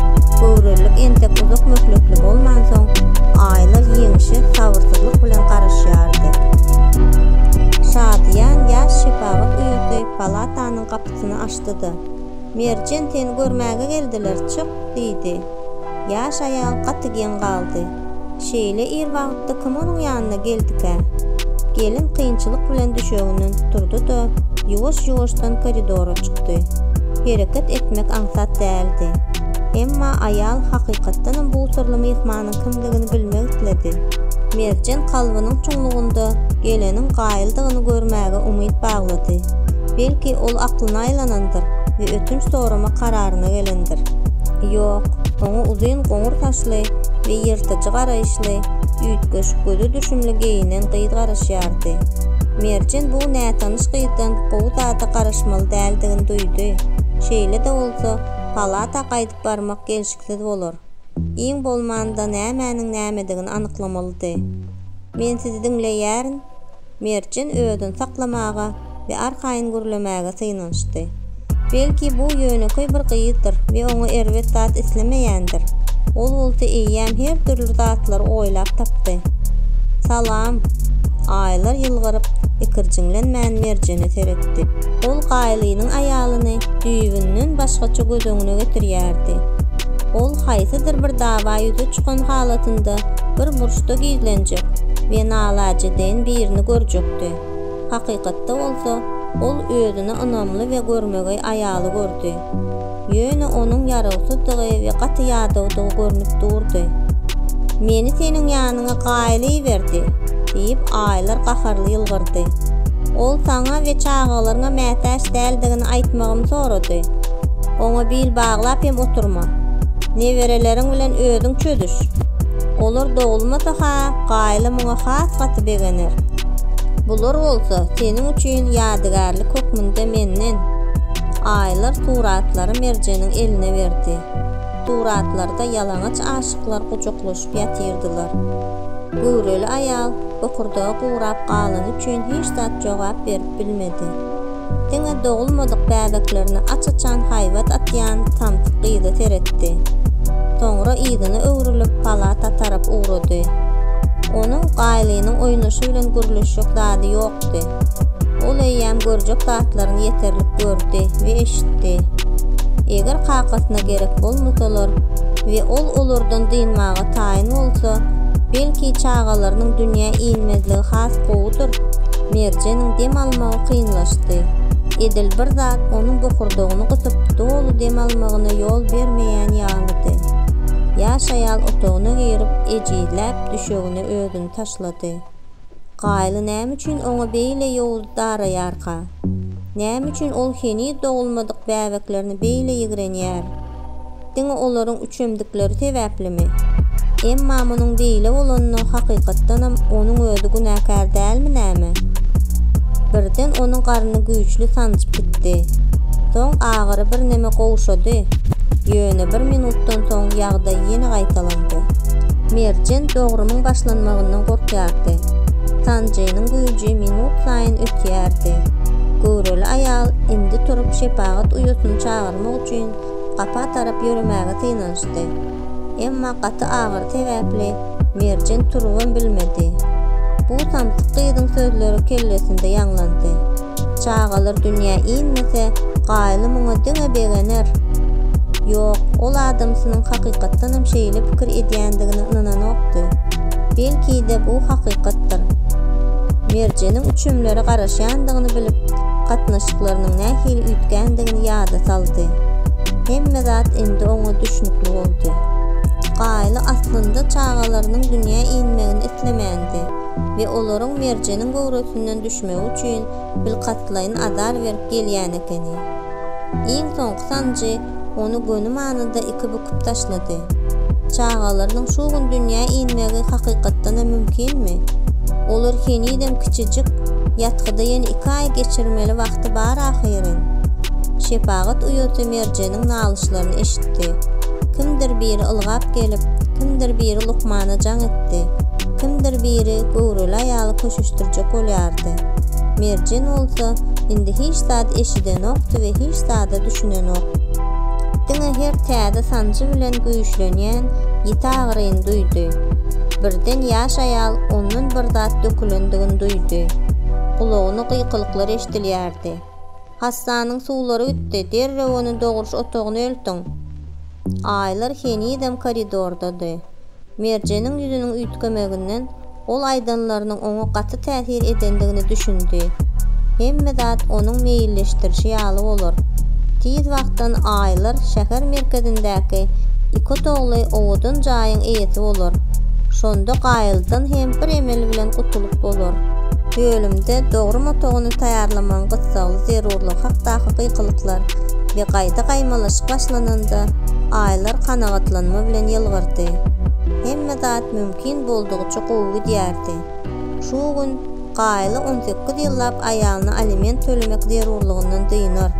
Göwrelilik entek uzak möhletli bolmansoň, aýylar ýeňişe sabyrsyzlyk bilen garaşýardy. Şadyýan ýaş şepagat uýasy palatanyň gapysyny açdy-da, Merjen, seni görmäge geldiler, çyk! diýdi. Ýaş aýal gaty geň galdy. Şeýle ir wagtda kim onuň ýanyna geldikä? Gelin kynçylyk bilen düşeginden turdy-da, ýuwaş-ýuwaşdan koridora çykdy. Hereket etmek aňsat däldi. Emma aýal hakykatdanam bu syrly myhmanyň kimdigini bilmek isledi. Merjen kalbynyň çuňlugynda geleniň gaýyldygyny görmäge umyt baglady. Belki, ol aklyna aýlanandyr we ötünç sorama kararyna gelendir. Ýok, oňa uzyn goňur saçly garaýyşly we ýyrtyjy garaýyşly, üýtgeş, göze düşümli geýinen gyz garaşýardy. Merjen bu nätanyş gyzdan gowy zada garaşmaly däldigini duýdy. Şeýle-de bolsa, palata gaýdyp barmak gelşiksiz bolar. Iň bolmanda nämäniň nämedigini anyklamalydy. Men sizi diňleýärin. Merjen özüni saklamaga we arkaýyn gürlemäge synanyşdy. Belki, bu ýönekeý bir gyzdyr we oňa erbet zat islemeýändir. Ol bolsa eýýäm her dürli zatlary oýlap tapdy. Salam! Aýlar ýylgyryp, ikirjiňlenmän Merjene seretdi. Ol Gaýlynyň aýalyny düýbünden başgaça göz öňüne getirýärdi. Ol haýsydyr bir dawa ýüze çykan halatynda bir guşlukda gizlenjek we nalaje deýin birini görjekdi. Hakykatda bolsa, ol özüne ynamly we görmegeý aýaly gördi. Ýöne onuň ýarawsyzdygy we gaty ýadawdygy görnüp durdy. Meni seniň ýanyňa gaýyl iberdi! diýip, aýlar gaharly ýylgyrdy. Ol saňa we çagalaryňa mätäç däldigini aýtmagymy sorady. Oňa bil baglap hem oturma. Nebereleriň bilen özüň çözüş! Olar dogulmasa-ha, Gaýla muňa has gaty begener. Bular bolsa seniň üçin ýadygärlik hökmünde menden. Aýlar suratlary Merjeniň eline berdi. Suratlarda ýalaňaç aşyklar gujaklaşyp ýatyrdylar. Göwreli aýal bokurdagy gurap galany üçin hiç zat jogap berip bilmedi. diňe dogulmadyk bäbeklerine aç-açan haýbat atýan samsyk gyza seretdi. Soňra yzyna öwrülip palata tarap ugrady. Onuň Gaýlynyň oýnaşy bilen gürleşjek zady ýokdy. Ol eýýäm görjek zatlaryny ýeterlik gördi we eşitdi. Eger kakasyna gerek bolmasalar we ol olardan dynmaga taýyn bolsa, belki çagalarynyň dünýä inmezligi has gowudyr? Merjeniň dem almagy kynlaşdy. Edil bir zat onuň bokurdagyny gysyp, doly dem almagyna ýol bermeýän ýalydy. Ýaş aýal otagyna girip, ejizläp düşegine özüni taşlady. Gaýly näme üçin oňa beýle ýowuz daraýarka? Näme üçin ol heniz dogulmadyk bäbeklerini beýle ýigrenýär? Diňe olaryň üçemdikleri sebäplimi? Emma munuň beýle bolanyna hakykatdanam onuň özi günäkär dälmi näme? Birden onuň garny güýçli sanjyp gitdi. Soň agyry birneme gowşady. Ýöne bir minutdan soň ýagdaý ýene gaýtalandy. Merjen dogrumyň başlanmagyndan gorkýardy. Sanjynyň güýji minut saýyn ösýärdi. Göwreli aýal indi turup şepagat uýasyny çagyrdy. Munuň üçin gapa tarap ýöremäge synanyşdy. Emma gaty agyry sebäpli Merjen turubam bilmedi. Bu samsyk gyzyň sözleri kellesinde ýaňlandy. Çagalar dünýä inmese, Gaýly muňa diňe begener. Ýok, ol adamsynyň hakykatdanam şeýle pikir edýändigine ynananokdy. Belki-de, bu hakykatdyr. Merjeniň üçümlere garaşýandygyny bilip, gatnaşyklarynyň nähili üýtgändigini ýada saldy. Hemme zat indi oňa düşnükli boldy. Gaýly aslynda çagalarynyň dünýä inmegini islemändi we olaryň Merjeniň göwresinden düşmegi üçin bilkastlaýyn azar berip gelýän ekeni. Iň soňky sanjy ony göni manyda iki büküp taşlady. Çagalarynyň şu gün dünýä inmegi hakykatdanam mümkinmi? Olar henizem kiçijik, ýatgyda ýene iki aý geçirmeli wagty bar ahyryn. Şepagat uýasy Merjeniň nalyşlaryny eşitdi. Kimdir biri ylgap gelip, kimdir biri lukmana jaň etdi, kimdir biri göwreli aýaly köşeşdirjek bolýardy. Merjen bolsa indi hiç zady eşidenokdy we hiç zada düşünenok. Diňe her täze sanjy bilen güýçlenýän ýiti agyryny duýdy. Birden ýaş aýal ondan bir zat dökülendigini duýdy. Gulagyna gyýkylyklar eşidilýärdi. Hassanyň suwlary gitdi, derrew ony dogruş otagyna eltiň! Aýlar henizem koridordady. Merjeniň ýüzüniň üýtgemeginden ol aýdanlarynyň oňa gaty täsir edendigine düşündi. Hemme zat onuň meýilleşdirişi ýaly bolar. Tiz wagtdan Aýlar şäher merkezindäki ikotogly owadan jaýyň eýesi bolar. Şonda Gaýyldan hem bir emel bilen gutulyp bolar. Bölümde dogrum otagyny taýýarlamagyň gyssagly zerurlygy hakdaky gykylyklar we gaýda gaýmalaşyk başlananda, Aýlar kanagatlanma bilen ýylgyrdy. çykdy. Hemme zat mümkin boldugyça gowy gidýärdi. Şu gün Gaýly on sekiz ýyllap aýalyny aliment tölemek zerurlygyndan dynar.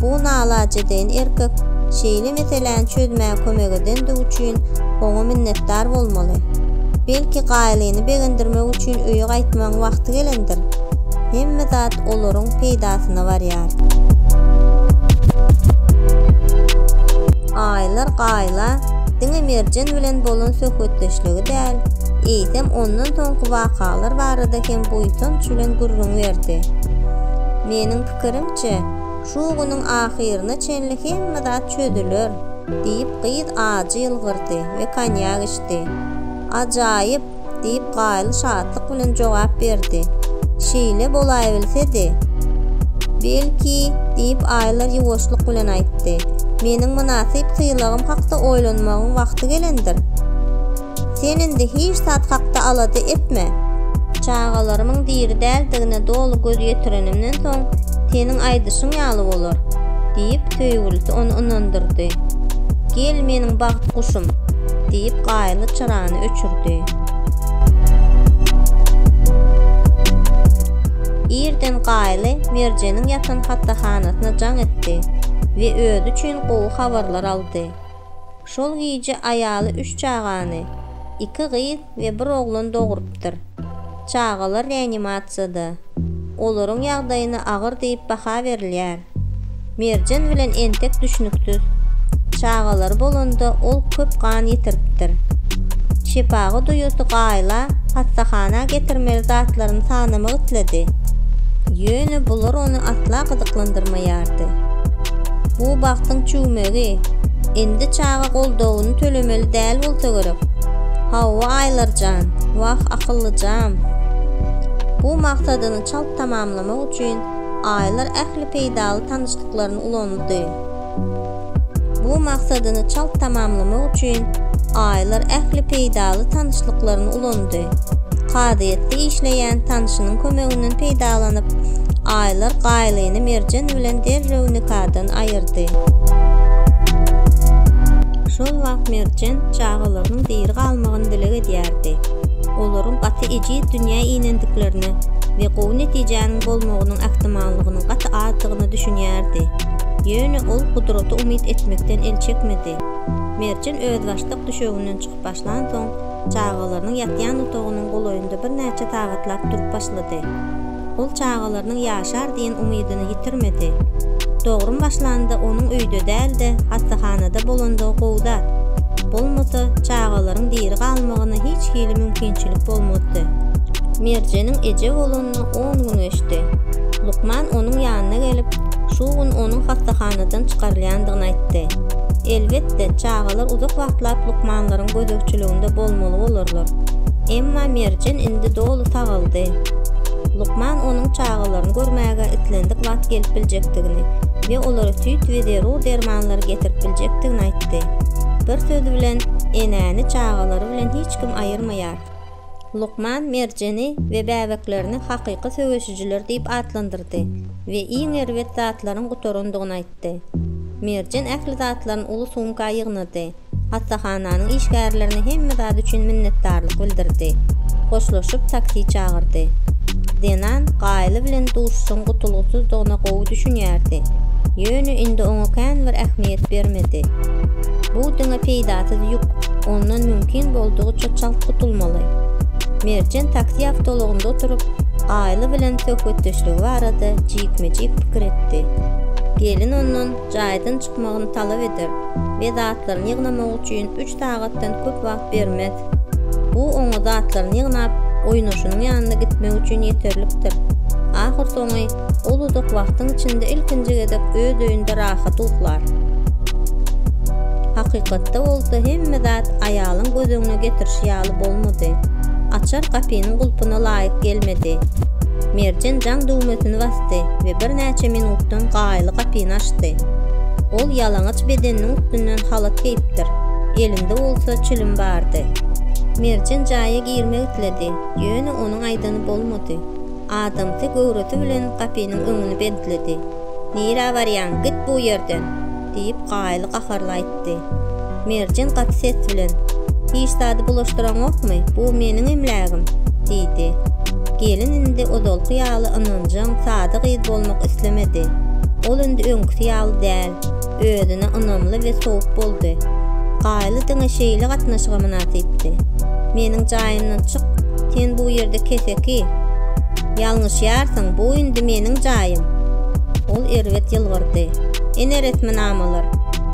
Bu nalajedeýin erkek şeýle meseläni çözmäge kömek edendigi üçin oňa minnetdar bolmaly. Belki Gaýlyny begendirmek üçin öýe gaýtmagyň wagty gelendir? Hemme zat olaryň peýdasyna barýar. Aýlar Gaýly Leýla diňe Merjen bilen bolan söhbetdeşligi däl, eýsem ondan soňky wakalar barada hem buýsanç bilen gürrüň berdi. Meniň pikirimçe, şu günüň ahyryna çenli hemme zat çözüler, diýip, gyz ajy ýylgyrdy we konýak içdi. Ajaýyp! diýip, Gaýyl şatlyk bilen jogap berdi. Şeýle bolaýbilsedi, belki, diýip, Aýlar ýuwaşlyk bilen aýtdy. Meniň mynasyp sylagym hakda oýlanmagyň wagty gelendir. Sen indi hiç zat hakda alada etme. Çagalarymyň diri däldigine doly göz ýetirenimden soň, seniň aýdyşyň ýaly bolar, diýip, söýgülisi ony ynandyrdy. Gel, meniň bagt guşum, diýip, Gaýyl restorany öçürdi. Irden Gaýly Merjeniň ýatan hassahanasyna jaň etdi we özi üçin gowy habarlar aldy. Şol gije aýaly üç çagany, iki gyz we bir oglan dogrupdyr. Çagalar reanimasiýada. Olaryň ýagdaýyna agyr diýip baha berilýär. Merjen bilen entek düşnüksiz. Çagalary bolanda ol köp gan ýitiripdir. Şepaga duýasy gaýyla hassahana getirmeli zatlaryny sanamak isledi. Ýöne bular ony asla gyzyklandyrmaýardy. Bu bagtyň çüwmegi. Indi çaga goldawyny tölemeli däl bolsa gerek. Hawa, Aýlar jan. Wah, akyllyjam. Bu maksadyny çalt tamamlamak üçin Aýlar ähli peýdaly tanyşlyklaryny ulandy. Bu maksadyny çalt tamamlamak üçin Aýlar ähli peýdaly tanyşlyklaryny ulandy. Kazyýetde işleýän tanşynyň kömeginden peýdalanyp, Aýlar Gaýlyny Merjen bilen derrew nikadan aýyrdy. Şol wagt Merjen çagalarynyň diri galmagyny dileg edýärdi. Olaryň gaty gaýdyp ejiz dünýä inendiklerine we gowy netijäniň bolmagynyň ähtimallygynyň gaty azdygyna düşünýärdi. Ýöne ol gudrata umyt etmekden el çekmedi. Merjen özbaşdak düşeginden çykyp başlansoň, çagalarynyň ýatýan otagynyň golaýynda birnäçe sagatlap durup başlady. Ol çagalarynyň ýaşar diýen umydyny ýitirmedi. Dogrum başlanda onuň öýde däl-de, hassahanada bolandygy gowy zat. Bolmasa, çagalaryň diri galmagyna hiç hili mümkinçilik bolmazdy. Merjeniň eje bolanyna on gün geçdi. Lukman onuň ýanyna gelip, şu gün onuň hassahanadan çykarylýandygyny aýtdy. Elbetde, çagalar uzak wagtlap lukmanlaryň gözegçiliginde bolmaly bolarlar. Emma Merjen indi doly sagaldy. Lukman onuň çagalaryny görmäge islendik wagt gelip biljekdigini we olara süýt we zerur dermanlary getirip biljekdigini aýtdy. Bir söz bilen, enäni çagalary bilen hiç kim aýyrmaýar. Lukman Merjeni we bäbeklerini hakyky söweşijiler diýip atlandyrdy we iň erbet zatlaryň gutarandygyny aýtdy. Merjen ähli zatlaryny uly sumka ýygnady. Hassahananyň işgärlerine hemme zat üçin minnetdarlyk bildirdi. Hoşlaşyp taksi çagyrdy. Zenan Gaýly bilen duşuşygyň gutulgysyzdygyna gowy düşünýärdi. Ýöne indi oňa kän bir ähmiýet bermedi. Bu diňe peýdasyz ýük, ondan mümkin boldugyça çalt gutulmaly. Merjen taksi awtoulagynda oturyp, Gaýly bilen söhbetdeşligi barada jikme-jik pikir etdi. Gelin ondan jaýdan çykmagyny talap eder we zatlaryny ýygnamagy üçin üç sagatdan köp wagt bermez. Bu oňa zatlaryny ýygnap, oýnaşynyň ýanyna gitmek üçin ýeterlikdir. Ahyrsoňy, ol uzak wagtyň içinde ilkinji gezek öz öýünde rahat uklar. Hakykatda bolsa hemme zat aýalyň göz öňüne getirişi ýaly bolmady. Açar gapynyň gulpuna laýyk gelmedi. Merjen jaň düwmesini basdy we bir birnäçe minutdan gaýyly gapyny açdy. Ol ýalaňaç bedeniniň üstünden halat geýipdir, elinde bolsa çilim bardy. Merjen jaýa girmek isledi, ýöne onuň aýdany bolmady. Adamsy göwresi bilen gapynyň öňüni bentledi. Nirä barýaň, git bu ýerden! diýip, Gaýyl gaharly aýtdy. Merjen gaty ses bilen, Hiç zady bulaşdyraňokmy, bu meniň emlägim! diýdi. Gelin indi ozalky ýaly ynanjaň, sada gyz bolmak islemedi. Ol indi öňküsi ýaly däl, özüne ynamly we sowuk boldy. Gaýyly diňe şeýle gatnaşyga mynasypdy. Meniň jaýymdan çyk, sen bu ýerde keseki! Ýalňyşýarsyň, bu indi meniň jaýym! Ol erbet ýylgyrdy. Ene resminamalar,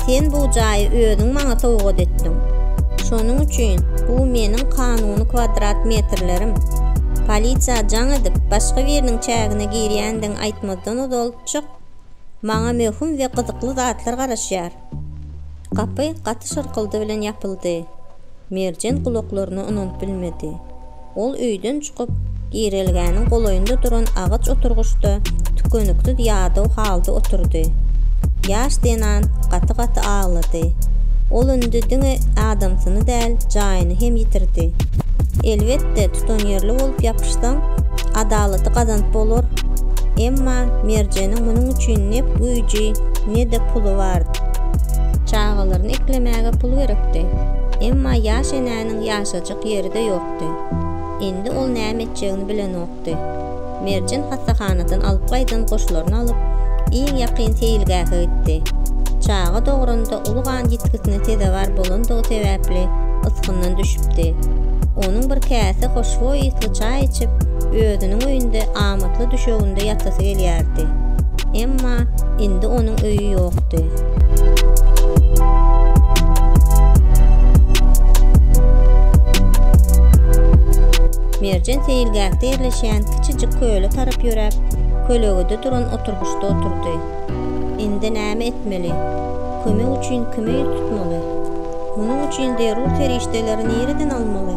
sen bu jaýy özüň maňa sowgat etdiň. Şonuň üçin bu meniň kanuny kwadrat metrlerim. Polisiýa jaň edip, başga biriniň çägine girýändigiňi aýtmazdan ozal çyk. Maňa möhüm we gyzykly zatlar garaşýar. Gapy gaty şyrkyldy bilen ýapyldy. Merjen gulaklaryna ynanyp bilmedi. Ol öýden çykyp, girelgäniň golaýynda duran agaç oturgyçda tükeniksiz ýadaw halda oturdy. Ýaş zenan gaty-gaty aglady. Ol indi diňe adamsyny däl, jaýyny hem ýitirdi. Elbetde, tutanýerli bolup ýapyşsaň, adalaty gazanyp bolar. Emma Merjeniň munuň üçin ne güýji, ne-de puly bardy. Çagalaryny eklemäge pul gerekdi. Emma ýaş enäniň ýaşajyk Ýeri-de ýokdy. Indi ol näme etjegini bilenokdy. Merjen hassahanadan alyp gaýdan goşlaryny alyp, iň ýakyn seýilgähe gitdi. Çaga dogranda uly gan ýitgisine sezewar bolandygy sebäpli ysgyndan düşüpdi. Onuň bir käse hoşboý ysly çaý içip, özüniň öýünde amatly düşeginde ýatasy gelýärdi. Emma indi onuň öýi ýokdy. Merjen seýilgähde ýerleşýän kiçijik köle tarap ýöräp, kölegede duran oturgyçda oturdy. Indi näme etmeli? Kömek üçin kime ýüz tutmaly? Munuň üçin zerur serişdeleri nireden almaly?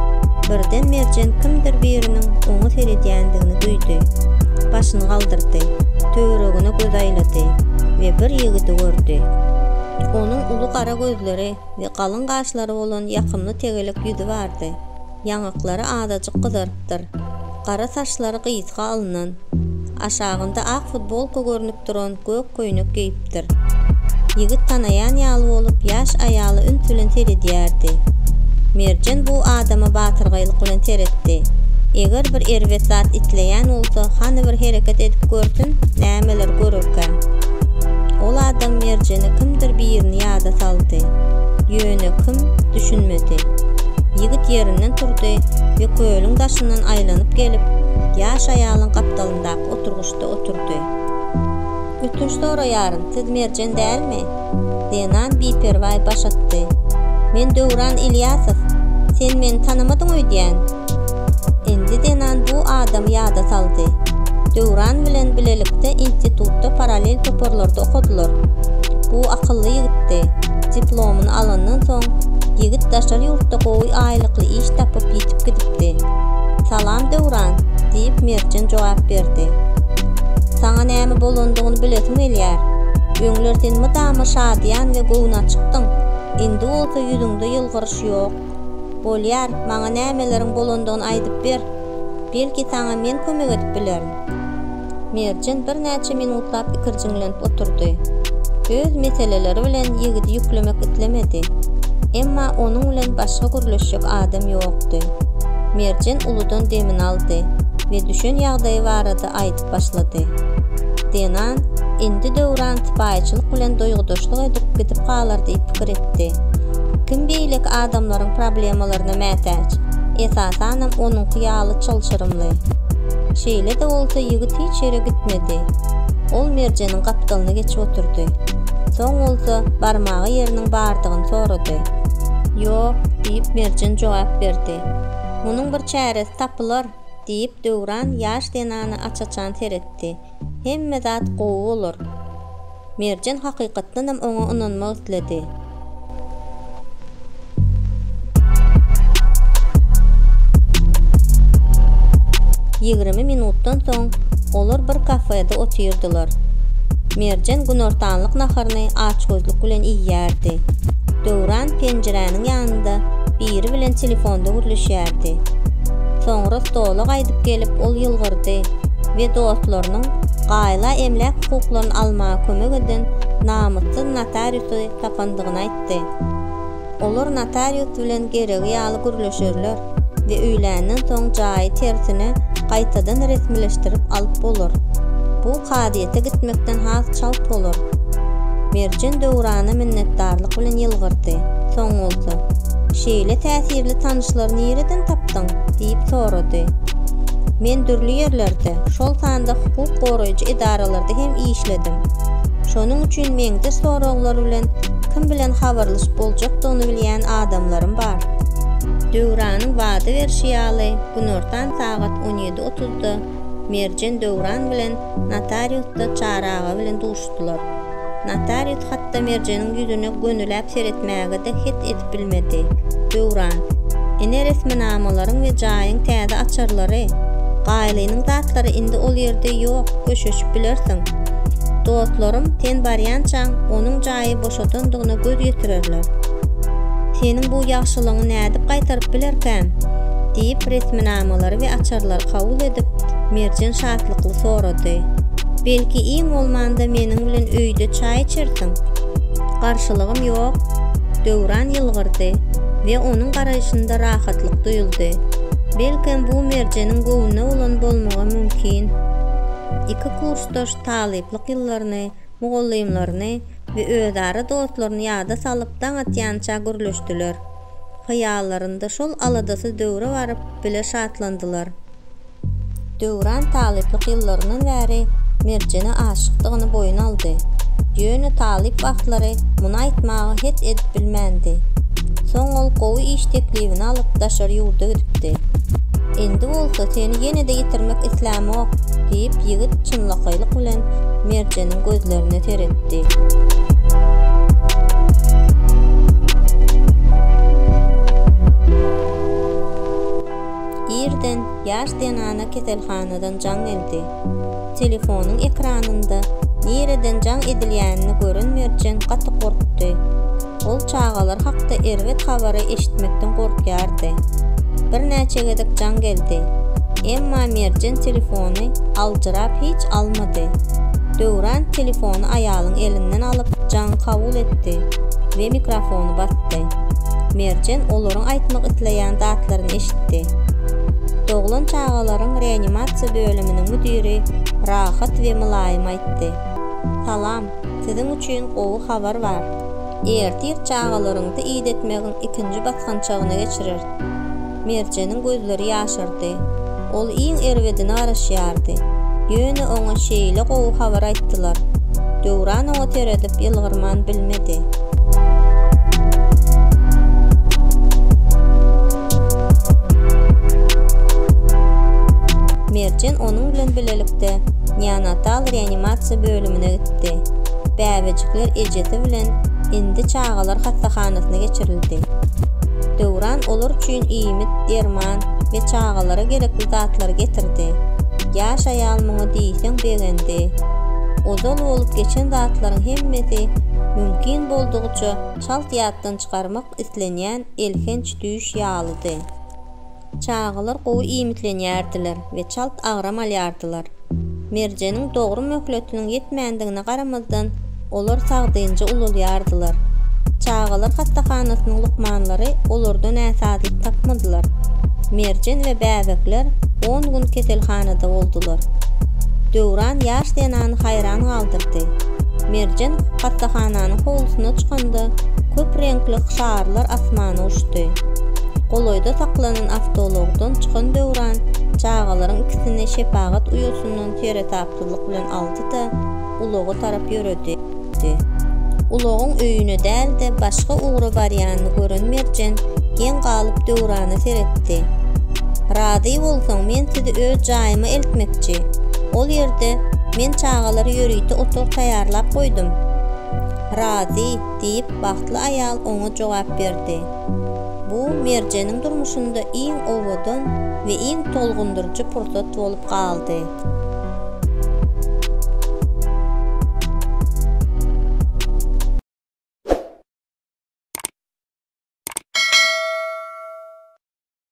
Birden Merjen kimdir biriniň oňa seredýändigini duýdy. Başyny galdyrdy. Töweregine göz aýlady we bir ýigidi gördi. Onuň uly gara gözleri we galyň gaşlary bolan ýakymly tegelek ýüzi bardy. Ýaňaklary azajyk gyzarypdyr. Gara saçlary gysga alnan, aşagynda ak futbolka görnüp duran gök köýnek geýipdir. Ýigit tanaýan ýaly bolup, ýaş aýala üns bilen seredýärdi. Merjen bu adama batyrgaýlyk bilen seretdi. Eger bir erbet zat isleýän bolsa, hany bir hereket edip görsün, nämeler görerkä? Ol adam Merjene kimdir birini ýada saldy. Ýöne kim, düşünmedi. Ýigit ýerinden turdy we kölüň daşynda gapysyndan aýlanyp gelip, ýaş aýalyň gapdalyndaky oturgyçda oturdy. Ötünç soraýaryn, siz Merjen dälmi? Zenan biperwaý baş atdy. Men Döwran Ilýasow. Sen meni tanamadyň öýdýän? Indi Zenan bu adamy ýada saldy. Döwran bilen bilelikde institutda parallel toparlarda okadylar. Bu akylly ýigitdi. Diplomyny alandan soň, ýigit daşary ýurtda gowy aýlykly iş tapyp, ýitip gidipdi. Salam, Döwran, diýip, Merjen jogap berdi. Saňa näme bolandygyny bilesim gelýär. Öňler sen mydama şadyýan we göwnaçykdyň, indi bolsa ýüzüňde ýylgyryş ýok. Bolýar, maňa nämeleriň bolandygyny aýdyp ber. Belki, saňa men kömek edip bilerin. Merjen birnäçe minutlap ikirjiňlenip oturdy. Öz meseleleri bilen ýigidi ýüklemek islemedi. Emma onuň bilen başga gürleşjek adam ýokdy. Merjen uludan demini aldy we düşen ýagdaýy barada aýdyp başlady. Zenan, Indi Döwran sypaýyçylyk bilen duýgudaşlyk edip gidip galar diýip pikir etdi. Kim beýleki adamlaryň problemalaryna mätäç, esasanam onuňky ýaly çylşyrymly? Şeýle-de bolsa ýigit hiç ýere gitmedi. Ol Merjeniň gapdalyna geçip oturdy. Soň bolsa barmaga ýeriniň bardygyny sorady. Ýok, diýip Merjen jogap berdi. Munuň bir çäresi tapylar, diýip Döwran ýaş zenana aç-açan seretdi. Hemme zat gowy bolar. Merjen hakykatdanam oňa ynanmak isledi. Ýigrimi minutdan soň olar bir kafede otyrdylar. Merjen günortanlyk naharyny açgözlük bilen iýýärdi. Döwran penjiräniň ýanynda biri bilen telefonda gürleşýärdi. Soňra stola gaýdyp gelip ol ýylgyrdy. we dostlarynyň gaýla emläk hukuklaryny almaga kömek eden namyssyz notariusy tapandygyny aýtdy. Olar notarius bilen geregi ýaly gürleşerler we öýländen soň jaýy tersine gaýtadan resmileşdirip alyp bolar. Bu kazyýete gitmekden has çalt bolar. Merjen Döwrana minnetdarlyk bilen ýylgyrdy. Soň bolsa, Şeýle täsirli tanyşlary nireden tapdyň? diýip sorady. Men dürli ýerlerde, şol sanda hukuk goraýjy edaralarda hem işledim. Şonuň üçin meňde soraglar bilen kim bilen habarlaşyp boljakdygyny bilýän adamlarym bar. Döwranyň wada berşi ýaly, günortan sagat on ýedi otuzda Merjen Döwran bilen notariusda Çary aga bilen duşuşýar. duşdular. Notarius hatda Merjeniň ýüzüne gönüläp seretmäge-de het edip bilmedi. Döwran, Ine resminamalaryň we jaýyň täze açarlary. Gaýlynyň zatlary indi ol ýerde ýok, köşeşip bilersiň. Dostlarym sen barýançaň onuň jaýy boşadandygyna göz ýetirerler. Seniň bu ýagşylygyňy nädip gaýtaryp bilerkäm? diýip, resminamalary we açarlary kabul edip, Merjen şatlykly sorady. Belki iň bolmanda meniň bilen öýde çaý içersiň? Garşylygym ýok, Döwran ýylgyrdy we onuň garaýşynda rahatlyk duýuldy. Belkem bu Merjeniň göwnüne bolan bolmagy mümkin. Iki kursdaş talyplyk ýyllaryny, mugallymlaryny we özara dostlaryny ýada salyp daň atýança gürleşdiler. Hyýallarynda şol aladasyz döwre baryp bile şatlandylar. Döwran talyplyk ýyllaryndan bäri Merjene aşykdygyny boýun aldy. Ýöne talyp wagtlary muny aýtmaga het edip bilmändi. Soň ol gowy iş teklibini alyp daşary ýurda gidipdi. Indi bolsa seni ýene-de ýitirmek islämok, diýip ýigit çynlakaýlyk bilen Merjeniň gözlerine seretdi. Irden ýaş zenana keselhanadan jaň edildi. Telefonyň ekranynda nireden jaň edilýänini gören Merjen gaty gorkdy. Ol çagalar hakda erbet habary eşitmekden gorkýardy. Birnäçe gezek jaň geldi. Emma Merjen telefony aljyrap hiç almady. Döwran telefony aýalyň elinden alyp jaňy kabul etdi we mikrofony basdy. Merjen olaryň aýtmak isleýän zatlaryny eşitdi. Doglan çagalaryň reanimasiýa bölüminiň müdiri rahat we mylaýym aýtdy, Salam, siziň üçin gowy habar bar. Ertir çagalaryňyzy idetmegiň ikinji basgançagyna geçireris. Merjeniň gözleri ýaşardy. Ol iň erbedine garaşýardy. Ýöne oňa şeýle gowy habar aýtdylar. Döwran oňa seredip ýylgyrman bilmedi. Merjen onuň bilen bilelikde neonatal reanimasiýa bölümine gitdi. Bäbejikler ejesi bilen indi çagalar hassahanasyna geçirildi. Döwran olar üçin iýmit, derman we çagalara gerekli zatlary getirdi. Ýaş aýal muňa diýseň begendi. Ozal bolup geçen zatlaryň hemmesi mümkin boldugyça çalt ýatdan çykarmak islenýän elhenç düýş ýalydy. Çagalar gowy iýmitlenýärdiler we çalt agram alýardylar. Merjeniň dogry möhletiniň ýetmändigine garamazdan, olar sagdynja ulalýardylar. Çagalar hassahanasynyň lukmanlary olarda näsazlyk tapmadylar. Merjen we bäbekler on gün keselhanada boldular. Döwran ýaş zenany haýran galdyrdy. Merjen hassahananyň howlusyna çykanda, köp reňkli şarlar asmana uçdy. Golaýda saklanan awtoulagdan çykan Döwran çagalaryň ikisini şepagat uýasyndan seresapsyzlyk bilen aldy-da, ulaga tarap ýöredi. Ulagyň öýüne däl-de, başga ugra barýanyny gören Merjen geň galyp Döwrana seretdi. Razy bolsaň, men sizi öz jaýyma eltmekçi. Ol ýerde men çagalara ýörite otag taýýarlap goýdum. Razy, diýip, bagtly aýal oňa jogap berdi. Bu Merjeniň durmuşynda iň owadan we iň tolgundyryjy pursat bolup galdy.